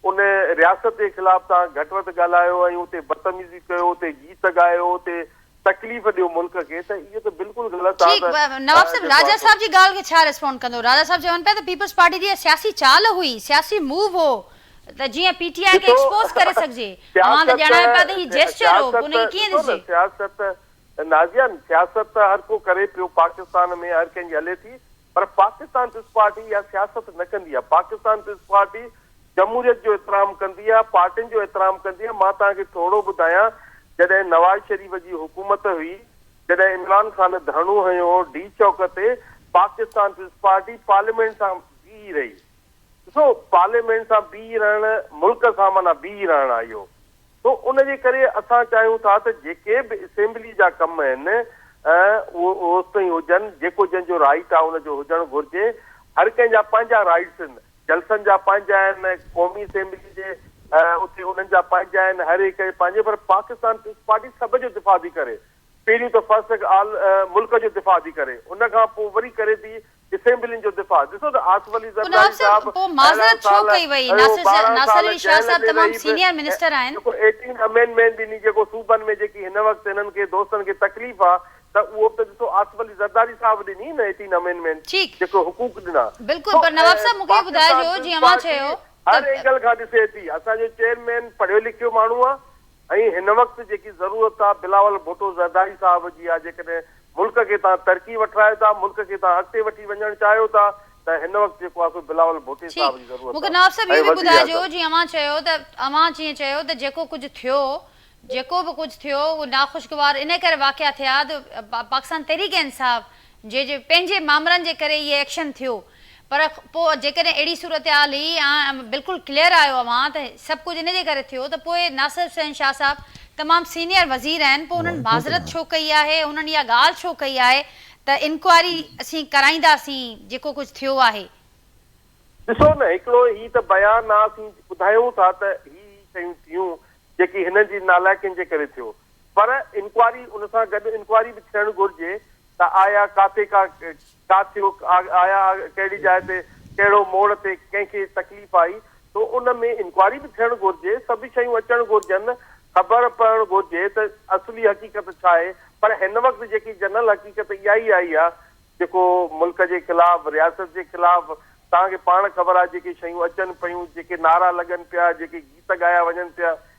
ان رياست جي خلاف توهان گهٽ وڌ ڳالهايو ۽ اتي بدتميزي ڪيو، اتي گيت ڳايو، اتي تڪليف ڏيو ملڪ کي ته اهو ته بلڪل غلط آ ٺيڪ نواب صاحب راجا صاحب جي ڳالهه کي ڇا ريسپونڊ ڪندو راجا صاحب چون پيا ته پيپلز پارٽي جي اها سياسي چال هئي سياسي موو هو ته جيئن پي ٽي آء کي ايڪسپوز ڪري سگهجي اوهان ته ڄاڻايو پيا ته هي جيسچر هو پوء ان کي ڪيئن ڏسجي. سياست نازيا سياست ته هر ڪو ڪري پيو پاڪستان ۾ هر ڪنهن جي هلي ٿي پر پاڪستان پيپلز پارٽي اها سياست نه ڪندي آهي، پاڪستان پيپلز پارٽي جمهوريت جو احترام ڪندي آهي، پارٽين جو احترام ڪندي آهي، مان توهان کي ٿورڙو ٻڌايان جڏهن نواز شريف جي حڪومت هئي، جڏهن عمران خان ڌرڻو هنيو هو ڊي چوڪ تي، پاڪستان پيپلز پارٽي پارليامينٽ سان بيهي رهي، ڏسو پارليامينٽ سان بيهي رهڻ ملڪ سان معنيٰ بيهي رهڻ آهي اهو، سو ان جي ڪري اسان چاهيون ٿا ته جيڪي به اسيمبلي جا ڪم آهن اهي اوستائين هجن جيڪو جنهن جو رائيٽ آهي ان جو هجڻ گهرجي. هر ڪنهن جا پنهنجا رائيٽس آهن، جلسن جا پنهنجا آهن، قومي اسيمبلي جي اتي انهن جا پنهنجا آهن، هر هڪ جا پنهنجا پر پاڪستان پيپلز پارٽي سڀ جو دفاع ٿي ڪري. پهريون ته فرسٽ آف آل ملڪ جو دفاع ٿي ڪري ان کان پوء وري ڪري ٿي اسيمبلين جو دفاع ڏسو ته آصف علي زرداري صاحب اهڙائن سال ڪيو ٻارهن سال جيل ۾ رهي به جيڪو ايٽين امينڊمينٽ ڏني جيڪو صوبن ۾ جيڪي هن وقت هنن کي دوستن کي تڪليف آ ته اهو به ته ڏسو آصف علي زرداري صاحب ڏني نه ايٽين امينڊمينٽ جيڪو حقوق ڏنا سو پاڪستان پيپلز پارٽي هر اينگل کان ڏسي ٿي اسان جو چيئرمين پڙهيو لکيو ماڻهو آ ۽ هن وقت جيڪي ضرورت آ بلاول ڀٽو زرداري صاحب جي آ جيڪڏهن ملڪ کي توهان ترقي وٺرايو ٿا ملڪ کي توهان اڳتي وٺي وڃڻ چاهيو ٿا ته هن وقت جيڪو آ سو بلاول ڀٽي صاحب جي ضرورت آ ٺيڪ مون کي نواب صاحب اهو به ٻڌائجو جيئن اوهان چيو ته اوهان جيئن چيو ته جيڪو ڪجهه ٿيو جيڪو به ڪجهه ٿيو اهو ناخوشگوار ان ڪري واقعا ٿيا ته پاڪستان تحريڪ انصاف جي جي پنهنجي مامرن جي ڪري اهي ايڪشن ٿيو پر پوء جيڪڏهن اهڙي صورتحال هئي ۽ بلڪل ڪليئر آيو اوهان ته سڀ ڪجهه ان جي ڪري ٿيو ته پوء ناصر حسين شاهه صاحب تمام سينئر وزير آهن پوء انهن معذرت ڇو ڪئي آهي انهن اها ڳالهه ڇو ڪئي آهي ته انڪوائري اسين ڪرائينداسين جيڪو ڪجهه ٿيو آهي. ڏسو نه هڪڙو هي ته بيان آ اسين ٻڌايون ٿا ته هي هي شيون ٿيون جيڪي هنن جي نالائقين جي ڪري ٿيو پر انڪوائري ان سان گڏ انڪوائري به ٿيڻ گهرجي ته آيا ڪاٿي ڪا ڪا ٿيو آيا ڪهڙي جاء تي ڪهڙو موڙ تي ڪنهن کي تڪليف آئي سو ان ۾ انڪوائري به ٿيڻ گهرجي سڀ شيون اچڻ گهرجن خبر پوڻ گهرجي ته اصلي حقيقت ڇا آهي پر هن وقت جيڪي جنرل حقيقت اها ئي آئي آهي جيڪو ملڪ جي خلاف رياست جي خلاف توهان کي پاڻ خبر آهي جيڪي شيون اچن پيون جيڪي نعرا لڳن پيا جيڪي گيت ڳايا وڃن پيا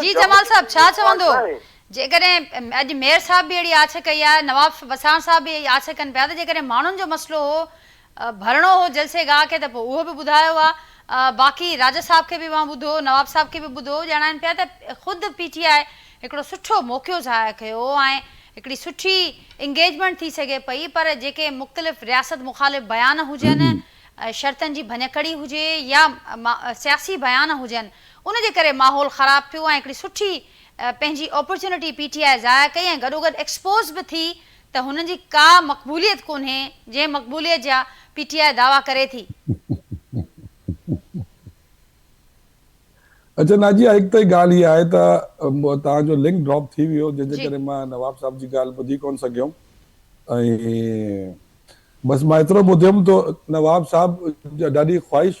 جي جمال صاحب ڇا چوندو جيڪڏهن اڄ مير صاحب به اهڙي آڇ ڪئي آهي نواب وساڻ صاحب به اهي آڇ ڪن پيا ته جيڪڏهن ماڻهن جو مسئلو هو ڀرڻو هو جلسي گاهه کي ته پوء اهو به ٻڌايو ها باقي راجا صاحب کي به اوهان ٻڌو نواب صاحب کي به ٻڌو ڄاڻائين پيا ته خود پي ٽي آء هڪڙو سٺو موقعو ظاهر ڪيو ۽ هڪڙي سٺي انگيجمنٽ ٿي سگهي پئي پر جيڪي مختلف رياست مخالف بيان هجن شرطن جي ڀڃڪڙي هجي يا سياسي بيان هجن ان جي ڪري ماحول خراب ٿيو ۽ هڪڙي سٺي پنهنجي اپرچونٽي پي ٽي آء ضايع ڪئي ۽ گڏوگڏ ايڪسپوز به ٿي ته هنن جي ڪا مقبوليت ڪونهي جنهن مقبوليت جا پي ٽي آء دعويٰ ڪري ٿي. اچا نازيه هڪ ته ڳالهه هي آهي ته توهان جو لنڪ ڊراپ ٿي ويو جنهن جي ڪري مان نواب صاحب جي ڳالهه ٻڌي ڪونه سگهيم ۽ بس مان ايترو ٻڌيم ته نواب صاحب جا ڏاڍي خواهش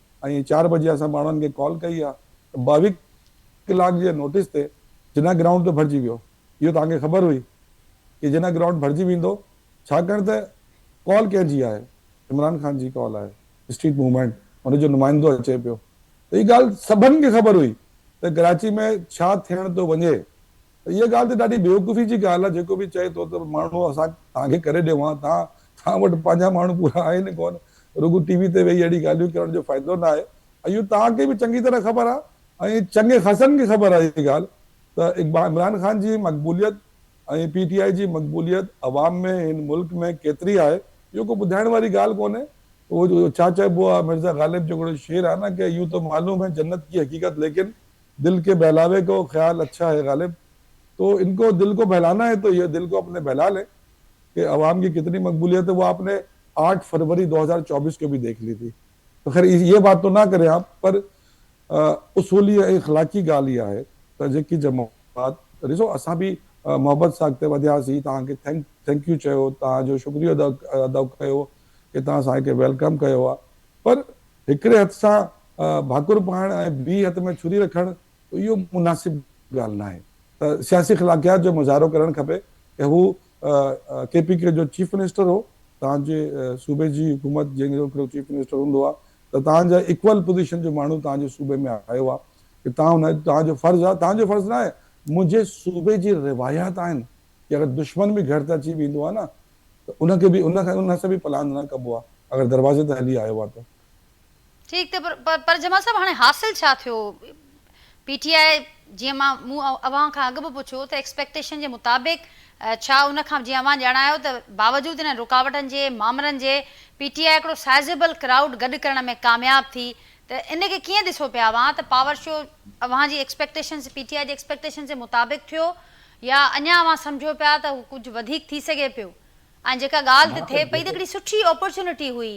۽ چار بجي اسان ماڻهن کي ڪال ڪئي آ ته ٻاويهه ڪلاڪ جي نوٽيس تي جناح گرائونڊ به ڀرجي ويو. اهو توهان کي خبر هئي ته جناح گرائونڊ ڀرجي ويندو ڇاڪاڻ ته ڪال ڪنهن جي آهي؟ عمران خان جي ڪال آهي، اسٽريٽ موومينٽ، ان جو نمائندو اچي پيو ته اها ڳالهه سڀن کي خبر هئي ته ڪراچي ۾ ڇا ٿيڻ ٿو وڃي ته اها ڳالهه ته ڏاڍي بيوقوفي جي ڳالهه آ جيڪو به چئي ٿو ته ماڻهو اسان توهان کي ڪري ڏيون ها توهان توهان وٽ پنهنجا ماڻهو پورا آهن ئي ڪونه، رڳو ٽي وي تي ويهي اهڙي ڳالهيون ڪرڻ جو فائدو نه آهي. اهو توهان کي به چڱي طرح خبر آهي ۽ چڱي خاصن کي خبر آهي اهي ڳالهه ته اقبا عمران خان جي مقبوليت ۽ پي ٽي آء جي مقبوليت عوام ۾ هن ملڪ ۾ ڪيتري آهي اهو ڪو ٻڌائڻ واري ڳالهه ڪونهي. اهو ڇا چئبو آهي مرزا غالب جو هڪڙو شعر آهي نه ڪه يون تو معلوم هي جنت ڪي حقيقت ليڪن دل ڪي بهلاوي ڪو خيال اڇا هي غالب تو ان ڪو دل ڪو بهلانا هي تو يي دل ڪو اپني بهلا لين ڪي عوام ڪي ڪتني مقبوليت هي وو آپ ني آٺ فروري دو هزار چوبيس ڪي بهي ديک لي ٿي تو خير يي بات تو نه ڪرين آپ پر اصولي ۽ اخلاقي ڳالهه هي آهي ته جيڪي جماعت ڏسو اسان به محبت سان اڳتي وڌيا سي توهان کي ٿينڪ ٿينڪ يو چيو توهان جو شڪريو ادا ڪيو ڪي توهان اسان کي ويلڪم ڪيو آهي پر هڪڙي هٿ سان ڀاڪر پائڻ ۽ ٻي هٿ ۾ ڇري رکڻ اهو مناسب ڳالهه ناهي ته سياسي خلاقيات جو مظاهرو ڪرڻ کپي ته هو ڪي پي ڪي جو چيف منسٽر هو توهان جي صوبي جي حڪومت جنهن جو هڪڙو چيف منسٽر هوندو آهي ته توهان جا ايڪول پوزيشن جو ماڻهو توهان جي صوبي ۾ آيو آهي ته توهان هن توهان جو فرض آهي توهان جو فرض ناهي منهنجي صوبي جي روايات آهن ڪي اگر دشمن به گهر تي اچي ويندو آهي نه ته ان کي به ان کي ان سان به پلاند نه ڪبو آهي اگر دروازي تي هلي آيو آهي ته ٺيڪ ته پر جمال صاحب هاڻي حاصل ڇا ٿيو پي ٽي آء جيئن مان مون اوهان کان اڳ به پڇيو ته ايڪسپيڪٽيشن جي مطابق ڇا ان کان جيئن اوهان ڄاڻايو ته باوجود انهن رڪاوٽن جي مامرن جي پي ٽي آء هڪڙو سائزيبل ڪرائوڊ گڏ ڪرڻ ۾ ڪامياب ٿي ته ان کي ڪيئن ڏسو پيا اوهان ته پاور شو اوهان جي ايڪسپيڪٽيشنز پي ٽي آء جي ايڪسپيڪٽيشنز جي مطابق ٿيو يا اڃا اوهان سمجهو پيا ته هو ڪجهه وڌيڪ ٿي سگهي پيو ۽ جيڪا ڳالهه ته ٿئي پئي ته هڪڙي سٺي اپورچونٽي هئي،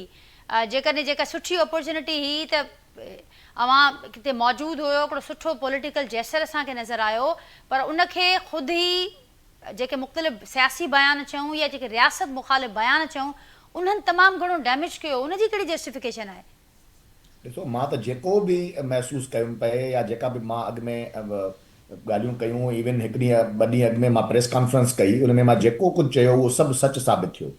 جيڪڏهن جيڪا سٺي اپورچونٽي هئي ته اوهان اتي موجود هيو، هڪڙو سٺو پوليٽيڪل جيسچر اسان کي نظر آيو، پر ان کي خود هي جيڪي مختلف سياسي بيان چئون يا جيڪي رياست مخالف بيان چئون انهن تمام گهڻو ڊيميج ڪيو، ان جي ڪهڙي جسٽيفڪيشن آهي؟ ڏسو مان ته جيڪو به محسوس ڪيم پئي يا جيڪا به مان اڳ ۾ ڳالهيون ڪيون ايون هڪ ڏينهن ٻه ڏينهن اڳ ۾ مان پريس ڪانفرنس ڪئي ان ۾ مان جيڪو ڪجهه چيو اهو سڀ سچ ثابت ٿيو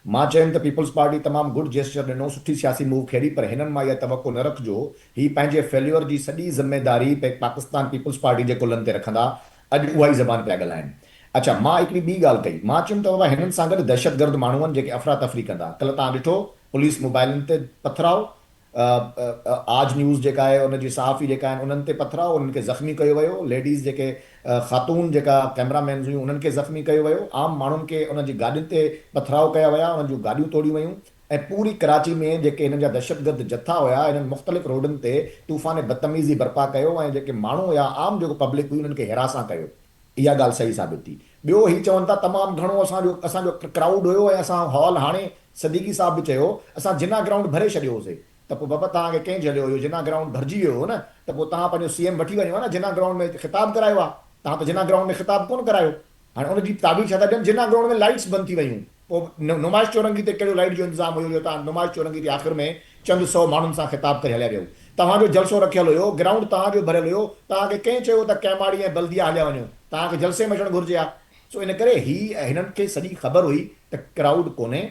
مان چيم ته پيپلز پارٽي تمام گڊ جيسچر ڏنو سٺي سياسي موو کيڏي پر هنن مان اها توقع نه رکجو هي پنهنجي فيليور جي سڄي ذميداري پيڪ پاڪستان پيپلز پارٽي جي ڪلهن تي رکندا اڄ اها ئي زبان پيا ڳالهائين اڇا مان هڪڙي ٻي ڳالهه ڪئي مان چيم ته بابا هنن سان گڏ دهشتگرد ماڻهون جيڪي افراتفري ڪندا ڪلهه توهان ڏٺو پوليس موبائلن تي پٿراء، آج نيوز جيڪا آهي ان جي صحافي جيڪا آهن انهن تي پٿراء، انهن کي زخمي ڪيو ويو، ليڊيز جيڪي خاتون جيڪا ڪئميرا مينز هيون انهن کي زخمي ڪيو ويو، عام ماڻهن کي انهن جي گاڏين تي پٿراء ڪيا ويا، انهن جون گاڏيون ٽوڙيون ويون ۽ پوري ڪراچي ۾ جيڪي هنن جا دهشتگرد جٿا هيا انهن مختلف روڊن تي طوفان بدتميزي برپا ڪيو ۽ جيڪي ماڻهو هيا عام جيڪو پبلڪ هئي انهن کي هراسان ڪيو. اها ڳالهه صحيح ثابت ٿي. ٻيو هي چون ٿا تمام گهڻو اسان جو اسان جو ڪرائوڊ هيو ۽ اسان هال هاڻي صديقي صاحب به چيو اسان جناح گرائونڊ ڀري ڇڏيو هوسي ته پوء بابا توهان کي ڪنهن جهليو اهو جناح گرائونڊ ڀرجي ويو هو نه ته پوء توهان پنهنجو سي ايم وٺي وڃو ها نه جناح گرائونڊ ۾ خطاب ڪرايو ها توهان ته جناح گرائونڊ ۾ خطاب ڪونه ڪرايو هاڻي ان جي تعبير ڇا ٿا ڏين جناح گرائونڊ ۾ لائيٽس بند ٿي ويون پوء نمائش چورنگي تي ڪهڙو لائيٽ جو انتظام هيو جو توهان نمائش چورنگي تي آخر ۾ چند سئو ماڻهن سان خطاب ڪري هليا ويو توهان جو جلسو رکيل هيو گرائونڊ توهان جو ڀريل هيو توهان کي ڪنهن چيو ته ڪئماڙي ۽ بلديه هليا وڃو توهان کي جلسي ۾ اچڻ گهرجي ها سو ان ڪري هي ۽ هنن کي سڄي خبر هئي ته ڪرائوڊ ڪونهي،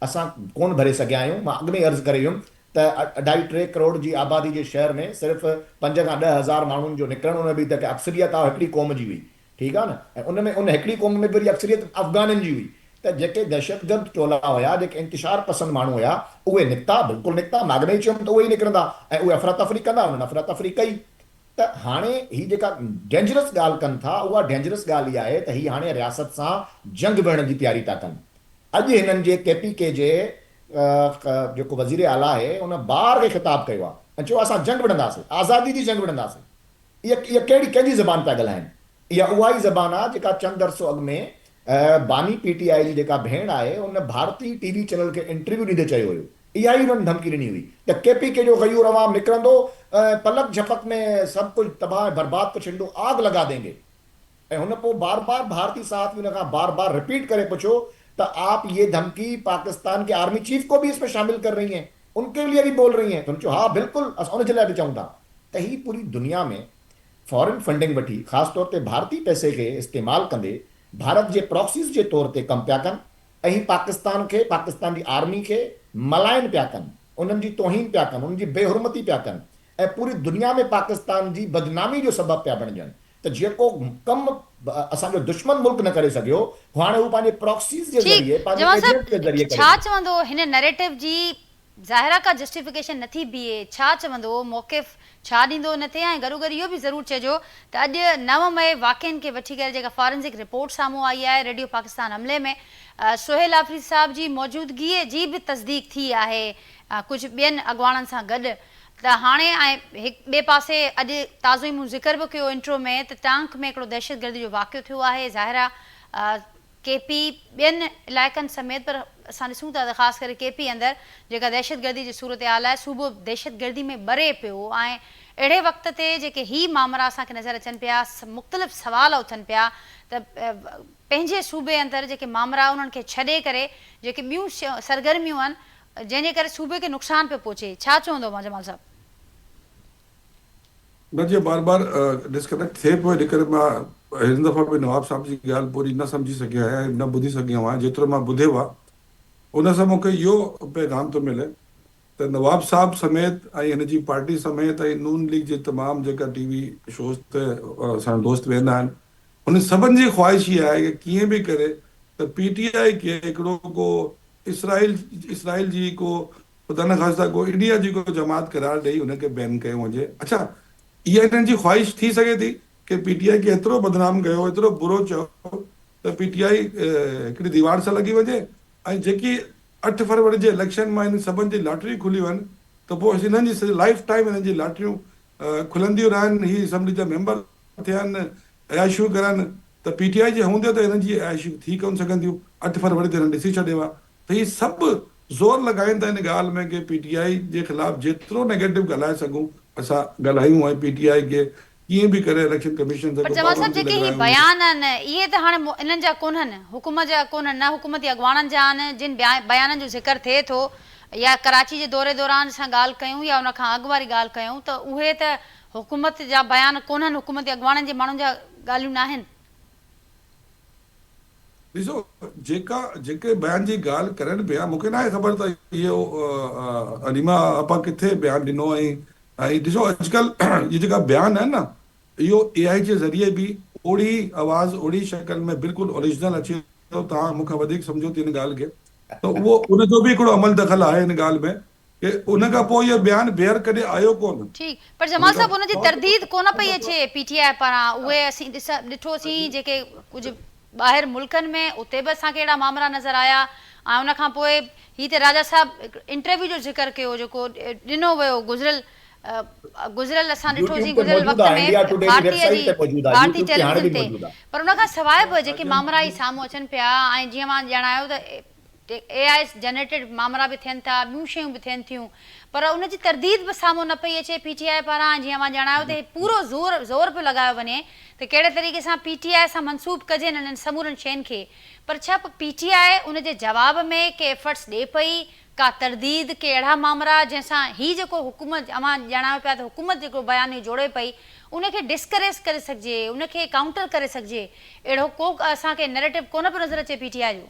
اسان ڪونه ڀري سگهيا آهيون، مان اڳ ۾ ئي عرض ڪري ويم ته اڍائي ٽي ڪروڙ جي آبادي جي شهر ۾ صرف پنج کان ڏهه هزار ماڻهن جو نڪرڻ ان ۾ به ته اڪثريت آ هڪڙي قوم جي هئي ٺيڪ آ نه ۽ ان ۾ ان هڪڙي قوم ۾ به وري اڪثريت افغانن جي هئي ته جيڪي دهشتگرد ٽولا هيا جيڪي انتشار پسند ماڻهو هيا اهي نڪتا بلڪل نڪتا مان اڳ ۾ ئي چيم ته اهي ئي نڪرندا ۽ اهي افراتفري ڪندا انهن افراتفري ڪئي ته هاڻي هي جيڪا ڊينجرس ڳالهه ڪن ٿا اها ڊينجرس ڳالهه هي آهي ته هي هاڻي رياست سان جنگ وڙهڻ جي تياري ٿا ڪن اڄ هنن جي ڪي پي ڪي جي جيڪو وزير اعليٰ آهي ان بار کي خطاب ڪيو آهي ۽ چيو آهي اسان جنگ وڙهنداسين آزادي جي جنگ وڙهنداسين اها ڪهڙي ڪنهن جي زبان پيا ڳالهائين اها اها ئي زبان آهي جيڪا چند عرصو اڳ ۾ باني پي ٽي آء جي جيڪا ڀيڻ آهي ان ڀارتي ٽي وي چينل کي انٽرويو ڏيندي چيو هيو اها ئي انهن ڌمڪي ڏني هئي ته ڪي پي ڪي جو غيور عوام نڪرندو ۽ پلڪ جهپڪ ۾ سڀ ڪجهه تباهه ۽ برباد ڪري ڇڏيندو، آگ لڳا دينگي. ۽ هن پوء بار بار ڀارتي صحافي هن کان بار بار رپيٽ ڪري پڇيو ته آپ يي ڌمڪي پاڪستان ڪي آرمي چيف ڪو ڀي اس ۾ شامل ڪر رهي هين؟ ان ڪي ليي ڀي بول رهي هين؟ ته هن چيو ها بلڪل اسان ان جي لاء به چئون ٿا ته هي پوري دنيا ۾ فارين فنڊنگ وٺي خاص طور تي ڀارتي پئسي کي استعمال ڪندي ڀارت جي پراڪسيز جي طور تي ڪم پيا ڪن اھي پاڪستان کي، پاڪستان جي آرمي کي ملائن پيا ڪن، انھن جي توھين پيا ڪن، انھن جي بي حرمتي پيا ڪن ۽ پوري دنيا ۾ پاڪستان جي بدنامي جو سبب پيا بڻجن ته جيڪو ڪم اسان جو دشمن ملڪ نه ڪري سگھيو ھو ھاڻي ھو پنھنجي پراڪسيز جي ذريعي، ٺيڪ پنھنجي جوان صاحب ايجنٽس جي ذريعي ڪري ڇا ٿو. چوندو ھن نريٽو جي ظاهرا ڪا جسٽيفڪيشن نه ٿي بيهي، ڇا چوندو، موقف ڇا ڏيندو نه ٿي ۽ گڏوگڏ اهو به ضرور چئجو ته اڄ نو مئي واقعن کي وٺي ڪري جيڪا فارنزڪ رپورٽ سامهون آئي آهي، ريڊيو پاڪستان حملي ۾ سهيل آفريدي صاحب جي موجودگيء جي به تصديق ٿي آهي ڪجهه ٻين اڳواڻن سان گڏ ته هاڻي ۽ ٻئي پاسي اڄ تازو ئي مون ذڪر به ڪيو انٽرو ۾ ته ٽانڪ ۾ هڪڙو دهشتگردي جو واقعو ٿيو آهي ظاهرا ڪي پي ٻين علائقن سميت پر اسان ڏسون ٿا ته خاص ڪري ڪي پي اندر جيڪا دهشتگردي جي صورتحال آهي صوبو دهشتگردي ۾ ٻري پيو آهي اهڙي وقت تي جيڪي هي مامرا اسان کي نظر اچن پيا مختلف سوال اٿن پيا ته پنهنجي صوبي اندر جيڪي مامرا انهن کي ڇڏي ڪري جيڪي ٻيون سرگرميون آهن جنهن جي ڪري صوبي کي نقصان پيو پهچي ڇا چوندو اوهان جمال صاحب. نه جيئن بار بار ڊسڪنيڪٽ ٿئي پيو ان ڪري مان هن دفعي به نواب صاحب جي ڳالهه پوري نه سمجهي سگهيو آهيان ۽ نه ٻڌي سگهيو آهيان جيترو مان ٻڌيو آهي ان سان مون کي اهو پيغام ٿو ملي ته نواب صاحب سميت ۽ هن جي پارٽي سميت ۽ نون ليگ جي تمام جيڪا ٽي وي شوز تي اسان جا دوست ويهندا آهن انهن سڀن جي خواهش اها آهي ته ڪيئن به ڪري ته پي ٽي آء کي هڪڙو ڪو اسرائيل اسرائيل جي ڪو خدا نخواسته ڪو ايڊياجي ڪو جماعت قرار ڏئي ان کي بين ڪيو وڃي اڇا اها انهن جي خواهش ٿي سگهي ٿي ڪي پي ٽي آء کي ايترو بدنام ڪيو ايترو برو چيو ته پي ٽي آء هڪڙي ديوار سان لڳي وڃي ۽ جيڪي اٺ فروري جي اليڪشن مان انهن سڀن جي لاٽريون کلي وين ته پوء انهن جي سڄي لائيف ٽائيم انهن جي لاٽريون کلنديون رهن هي اسيمبلي جا ميمبر ٿين عياشيون ڪرن ته پي ٽي آء جي هوندي ته انهن جي عياشيون ٿي ڪونه سگهنديون اٺ فروري تي انهن ڏسي ڇڏيو آهي ته هي سڀ زور لڳائين ته ان ڳالهه ۾ ڪي پي ٽي آء جي خلاف جيترو نيگيٽو ڳالهائي سگهون اسان ڳالهايون ۽ پي ٽي آء کي ڪيئن به ڪري اليڪشن ڪميشن سان پر جمال صاحب جيڪي هي بيان آهن اهي ته هاڻي انهن جا ڪونهن حڪومت جا ڪونهن نه حڪومتي اڳواڻن جا آهن جن بيانن جو ذڪر ٿئي ٿو يا ڪراچي جي دوري دوران اسان ڳالهه ڪيون يا ان کان اڳ واري ڳالهه ڪيون ته اهي ته حڪومت جا بيان ڪونهن حڪومتي اڳواڻن جي ماڻهن جا ڳالهيون ناهن. ڏسو جيڪا جيڪي بيان جي ڳالهه ڪرين پيا مون کي ناهي خبر ته اهو عليما آپا ڪٿي بيان ڏنو ۽ ۽ ڏسو اڄڪلهه اهي جيڪا بيان آهن نه اهو اي آئي جي ذريعي به اوڙي آواز اوڙي شڪل ۾ بلڪل اوريجنل اچي ٿو توهان مون کان وڌيڪ سمجهو ٿي ان ڳالهه کي ته اهو ان جو به هڪڙو عمل دخل آهي ان ڳالهه ۾ ڪي ان کان پوء اهو بيان بيهر ڪڏهن آيو ڪونه. ٺيڪ پر جمال صاحب ان جي ترديد ڪونه پئي اچي پي ٽي آء پاران اهي اسين ڏٺو سين جيڪي ڪجهه ٻاهر ملڪن ۾ اتي به اسان کي اهڙا مامرا نظر آيا ۽ ان کان پوء هي ته راجا صاحب انٽرويو جو ذڪر ڪيو جيڪو ڏنو ويو گذريل گذريل اسان ڏٺو سين گذريل وقت ۾ ڀارتي جي ڀارتي ٽيليويزن تي پر ان کان سواء به جيڪي مامرا هي سامهون اچن پيا ۽ جيئن اوهان ڄاڻايو ته جي اي آء جنريٽيڊ مامرا به ٿين ٿا، ٻيون شيون به ٿين ٿيون پر ان جي ترديد به سامهون نه پئي اچي پي ٽي آء پاران ۽ جيئن اوهان ڄاڻايو ته هي پورو زور زور پيو لڳايو وڃي ته ڪهڙي طريقي سان پي ٽي آء سان منسوب ڪجين انهن سمورن شين کي پر ڇا پي ٽي آء ان جي جواب ۾ ڪي ايفرٽس ڏئي پئي ڪا ترديد ڪي اهڙا مامرا جنهن سان هي جيڪو حڪومت اوهان ڄاڻايو پيا ته حڪومت جيڪو بيانيو جوڙي پئي ان کي ڊسڪريس ڪري سگهجي ان کي ڪائونٽر ڪري سگهجي اهڙو ڪو اسان کي نيريٽو ڪونه پيو نظر اچي پي ٽي آء جو.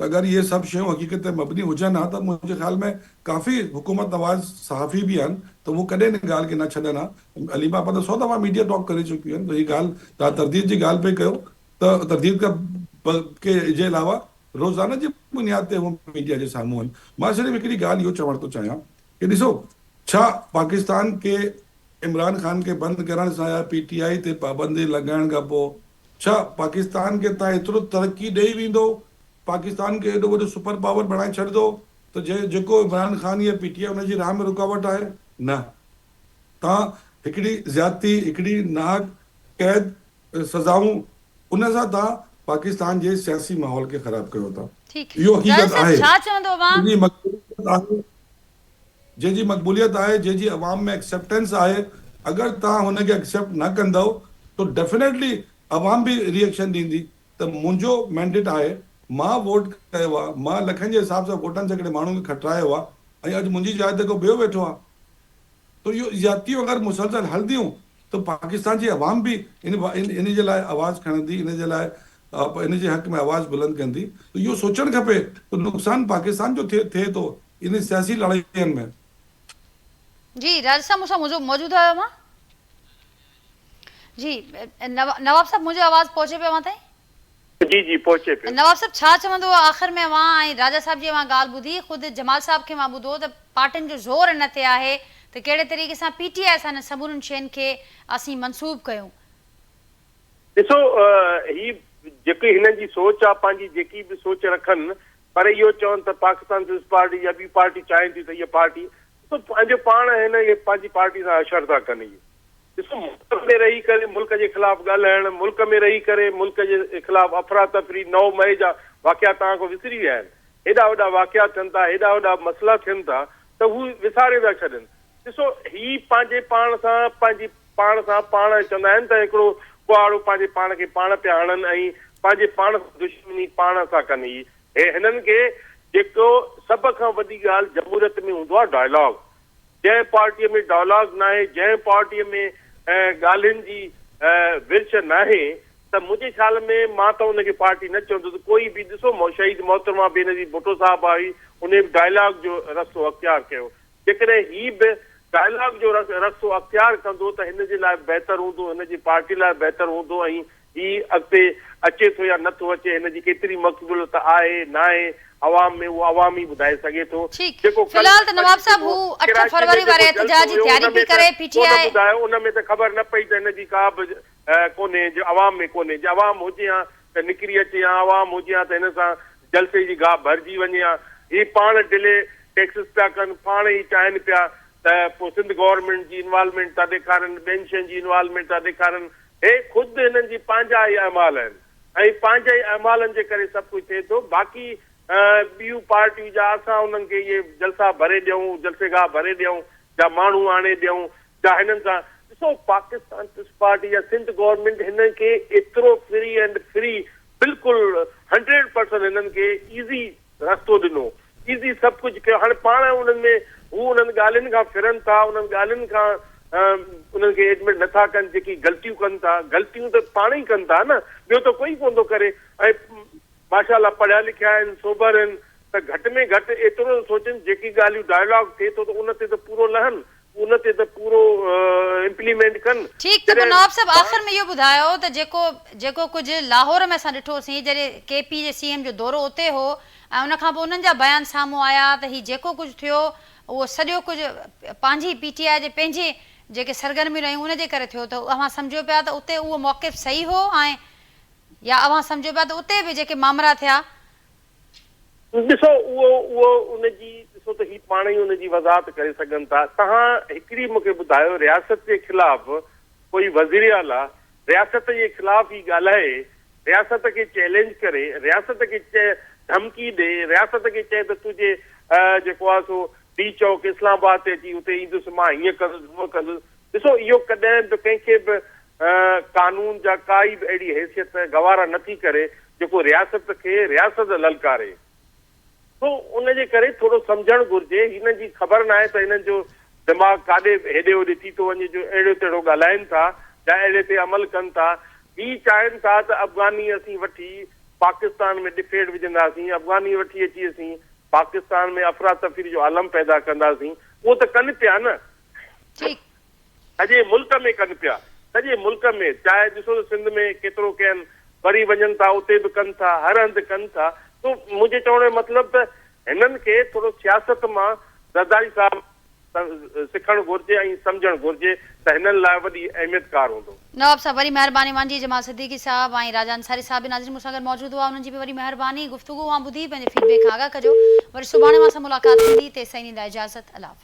ته اگر اهي سڀ شيون حقيقت تي مبني هجن ها ته منهنجي خيال ۾ ڪافي حڪومت نواز صحافي به آهن ته اهو ڪڏهن ان ڳالهه کي نه ڇڏن ها. عليم آپا ته سو دفعا ميڊيا ٽاڪ ڪري چڪيون آهن ته هي ڳالهه توهان ترديد جي ڳالهه پئي ڪيو ته ترديد کان ب ڪي جي علاوه روزانه جي بنياد تي هو ميڊيا جي سامهون آهن. مان صرف هڪڙي ڳالهه اهو چوڻ ٿو چاهيان ڪي ڏسو ڇا پاڪستان ڪي عمران خان کي بند ڪرڻ سان يا پي ٽي آء تي پابندي لڳائڻ کان پوء ڇا پاڪستان کي تان ايترو ترقي ڏئي ويندو، پاڪستان کي ايڏو وڏو سپر پاور بڻائي ڇڏندو ته جنهن جيڪو عمران خان يا پي ٽي آء ان جي راهه ۾ رڪاوٽ آهي؟ نه. تان هڪڙي زيادتي، هڪڙي ناحق قيد سزائون ان سان تان پاڪستان جي سياسي ماحول کي خراب ڪيو ٿا. اهو حقيقت آهي. تنهنجي مقبوليت آهي. جنهن جي مقبوليت آهي، جنهن جي عوام ۾ ايڪسيپٽنس آهي، اگر توهان هن کي ايڪسيپٽ نه ڪندؤ ته ڊيفينيٽلي عوام به ري ايڪشن ڏيندي ته منهنجو مينڊيٽ آهي، مان ووٽ ڪيو آهي، مان لکن جي حساب سان ووٽن سيڪڙي ماڻهن کي کٽرايو آهي ۽ اڄ منهنجي جاء تي ڪو ٻيو ويٺو آهي ته اهو زيادتيون اگر مسلسل هلنديون ته پاڪستان جي عوام به ان ان جي لاء آواز کڻندي، ان جي لاء ان جي حق ۾ آواز بلند ڪندي ته اهو سوچڻ کپي ته نقصان پاڪستان جو ٿئي ٿئي ٿو انهن سياسي لڙائين ۾. جي راجا صاحب مون سان موجود آهيو اوهان. جي نواب صاحب منهنجو آواز پهچي پيو اوهان تائين. جي جي پهچي پيو. نواب صاحب ڇا چوندو آخر ۾ اوهان ۽ راجا صاحب جي اوهان ڳالهه ٻڌي خود جمال صاحب کي اوهان ٻڌو ته پارٽين جو زور ان تي آهي ته ڪهڙي طريقي سان پي ٽي آء سان انهن سمورين شين کي اسين منسوب ڪيون. ڏسو هي جيڪي هنن جي سوچ آهي پنهنجي جيڪي به سوچ رکن پر اهو چون ته پاڪستان پيپلز پارٽي يا ٻي پارٽي چاهين ٿيون ته اهي پارٽي ڏسو پنهنجو پاڻ آهن اهي پنهنجي پارٽي سان اشر ٿا ڪن اهي ڏسو ملڪ ۾ رهي ڪري ملڪ جي خلاف ڳالهائڻ ملڪ ۾ رهي ڪري ملڪ جي خلاف افراتفري نو مئي جا واقعا توهان کان وسري ويا آهن هيڏا وڏا واقعا ٿين ٿا هيڏا وڏا مسئلا ٿين ٿا ته هو وساري ٿا ڇڏن ڏسو هي پنهنجي پاڻ سان پنهنجي پاڻ سان پاڻ چوندا آهن ته هڪڙو ڪهاڙو پنهنجي پاڻ کي پاڻ پيا هڻن ۽ پنهنجي پاڻ سان دشمني پاڻ سان ڪن هي هنن کي جيڪو سڀ کان وڏي ڳالهه جمهوريت ۾ هوندو آهي ڊائلاگ جنهن پارٽي ۾ ڊائلاگ ناهي جنهن پارٽي ۾ ڳالهين جي ورڇ ناهي ته منهنجي خيال ۾ مان ته ان کي پارٽي نه چوندس ڪوئي به ڏسو شهيد محترمه بينظير ڀٽو صاحب آهي انهي به ڊائلاگ جو رستو اختيار ڪيو جيڪڏهن هي به ڊائلاگ جو رستو اختيار ڪندو ته هن جي لاء بهتر هوندو، هن جي پارٽي لاء بهتر هوندو ۽ هي اڳتي اچي ٿو يا نٿو اچي هن جي ڪيتري مقبوليت آهي ناهي عوام ۾ اهو عوام ئي ٻڌائي سگهي ٿو. ٺيڪ جيڪو في الحال ته ڪل نواب صاحب هو ڪراچي اٺ ۾ فروري جيڪو واري جلسو احتجاج جي هيو تياري ان ۾ به ته ڪري پي ٽي ڪو نه آء ٻڌايو ان ۾ ته خبر نه پئي ته هن جي ڪا به ڪونهي جو عوام ۾ ڪونهي جي عوام هجي ها ته نڪري اچي ها عوام هجي ها ته هن سان جلسي جي گاهه ڀرجي وڃي ها هي پاڻ ڊلي ٽيڪسز پيا ڪن پاڻ هي چاهين پيا ته پو سنڌ گورنمينٽ جي انوالومينٽ ٿا ڏيکارن ٻين شين جي انوالومينٽ ٿا ڏيکارن هي خود هنن جي پنهنجا هي اعمال آهن ۽ پنهنجي اعمالن جي ڪري سڀ ڪجهه ٿئي ٿو باقي ٻيون پارٽيون جا اسان انهن کي اهي جلسا ڀري ڏيون جلسي گاهه ڀري ڏيون جا ماڻهو آڻي ڏيون جا هنن سان ڏسو پاڪستان پيپلز پارٽي يا سنڌ گورنمينٽ هنن کي ايترو فري اينڊ فري بلڪل هنڊريڊ پرسنٽ هنن کي ايزي رستو ڏنو ايزي سڀ ڪجهه ڪيو هاڻي پاڻ انهن ۾ هو انهن ڳالهين کان ڦرن ٿا انهن ڳالهين کان انهن کي ايڊمٽ نه ٿا ڪن جيڪي غلطيون ڪن ٿا غلطيون ته پاڻ ئي ڪن ٿا نه ٻيو ته ڪوئي ڪون ٿو ڪري ۽ ماشاء الله پڙهيا لکيا آهن سوبر آهن ته گهٽ ۾ گهٽ ايترو ته سوچن جيڪي ڳالهيون ڊائلاگ ٿئي ٿو ته ان تي ته پورو لهن ان تي ته پورو امپليمينٽ ڪن ٺيڪ ته پوء نواب صاحب آخر ۾ اهو ٻڌايو ته جيڪو جيڪو ڪجهه لاهور ۾ اسان ڏٺو سين جڏهن ڪي پي جي سي ايم جو دورو اتي هو ۽ ان کان پوء انهن جا بيان سامهون آيا ته هي جيڪو ڪجهه ٿيو اهو سڄو ڪجهه پنهنجي پي ٽي آء جي پنهنجي جيڪي سرگرميون رهيون ان جي ڪري ٿيو ته اوهان سمجهو پيا ته اتي اهو موقف صحيح هو ۽ يا اوهان سمجهو پيا ته اتي به جيڪي مامرا ٿيا. ڏسو اهو اهو ان جي ڏسو ته هي پاڻ ئي ان جي وضاحت ڪري سگهن ٿا. تهان هڪڙي مون کي ٻڌايو رياست جي خلاف ڪوئي وزير اعليٰ رياست جي خلاف ئي ڳالهائي، رياست کي چئلينج ڪري، رياست کي ڌمڪي ڏي، رياست کي چئي ته تنهنجي جيڪو آهي سو ڊي چوڪ اسلام آباد تي اچي اتي ايندس مان هيئن ڪندس هونئن ڪندس. ڏسو اهو ڪڏهن به ڪنهن کي به قانون جا ڪائي به اهڙي حيثيت گوارا نه ٿي ڪري جيڪو رياست کي رياست للڪاري ٿو ان جي ڪري ٿورو سمجهڻ گهرجي هنن جي خبر ناهي ته هنن جو دماغ ڪاڏي هيڏي هوڏي ٿي ٿو وڃي جو اهڙيو تهڙو ڳالهائين ٿا يا اهڙي تي عمل ڪن ٿا هي چاهين ٿا ته افغاني اسين وٺي پاڪستان ۾ ڏڦيڙ وجهنداسين افغاني وٺي اچي اسين پاڪستان ۾ افراتفري جو عالم پيدا ڪنداسين اهو ته ڪن پيا نه ٺيڪ سڄي ملڪ ۾ ڪن پيا سڄي ملڪ ۾ چاهي ڏسو ته سنڌ ۾ ڪيترو ڪين وري وڃن ٿا اتي به ڪن ٿا هر هنڌ ڪن ٿا سو منهنجي چوڻ جو مطلب ته هنن کي ٿورو سياست مان زرداري صاحب سکڻ گهرجي ۽ سمجهڻ گهرجي ته هنن لاء وڏي اهميت ڪار هوندو. نواب صاحب وري مهرباني مانجي جمال صديقي صاحب ۽ راجا انصاري صاحب به ناظرين مون سان گڏ موجود هئا انهن جي به وري مهرباني گفتگو اوهان ٻڌي پنهنجي فيڊ بيڪ کان آگاهه ڪجو وري سڀاڻي اوهان سان ملاقات ٿيندي تيستائين ڏيندا اجازت الله حافظ.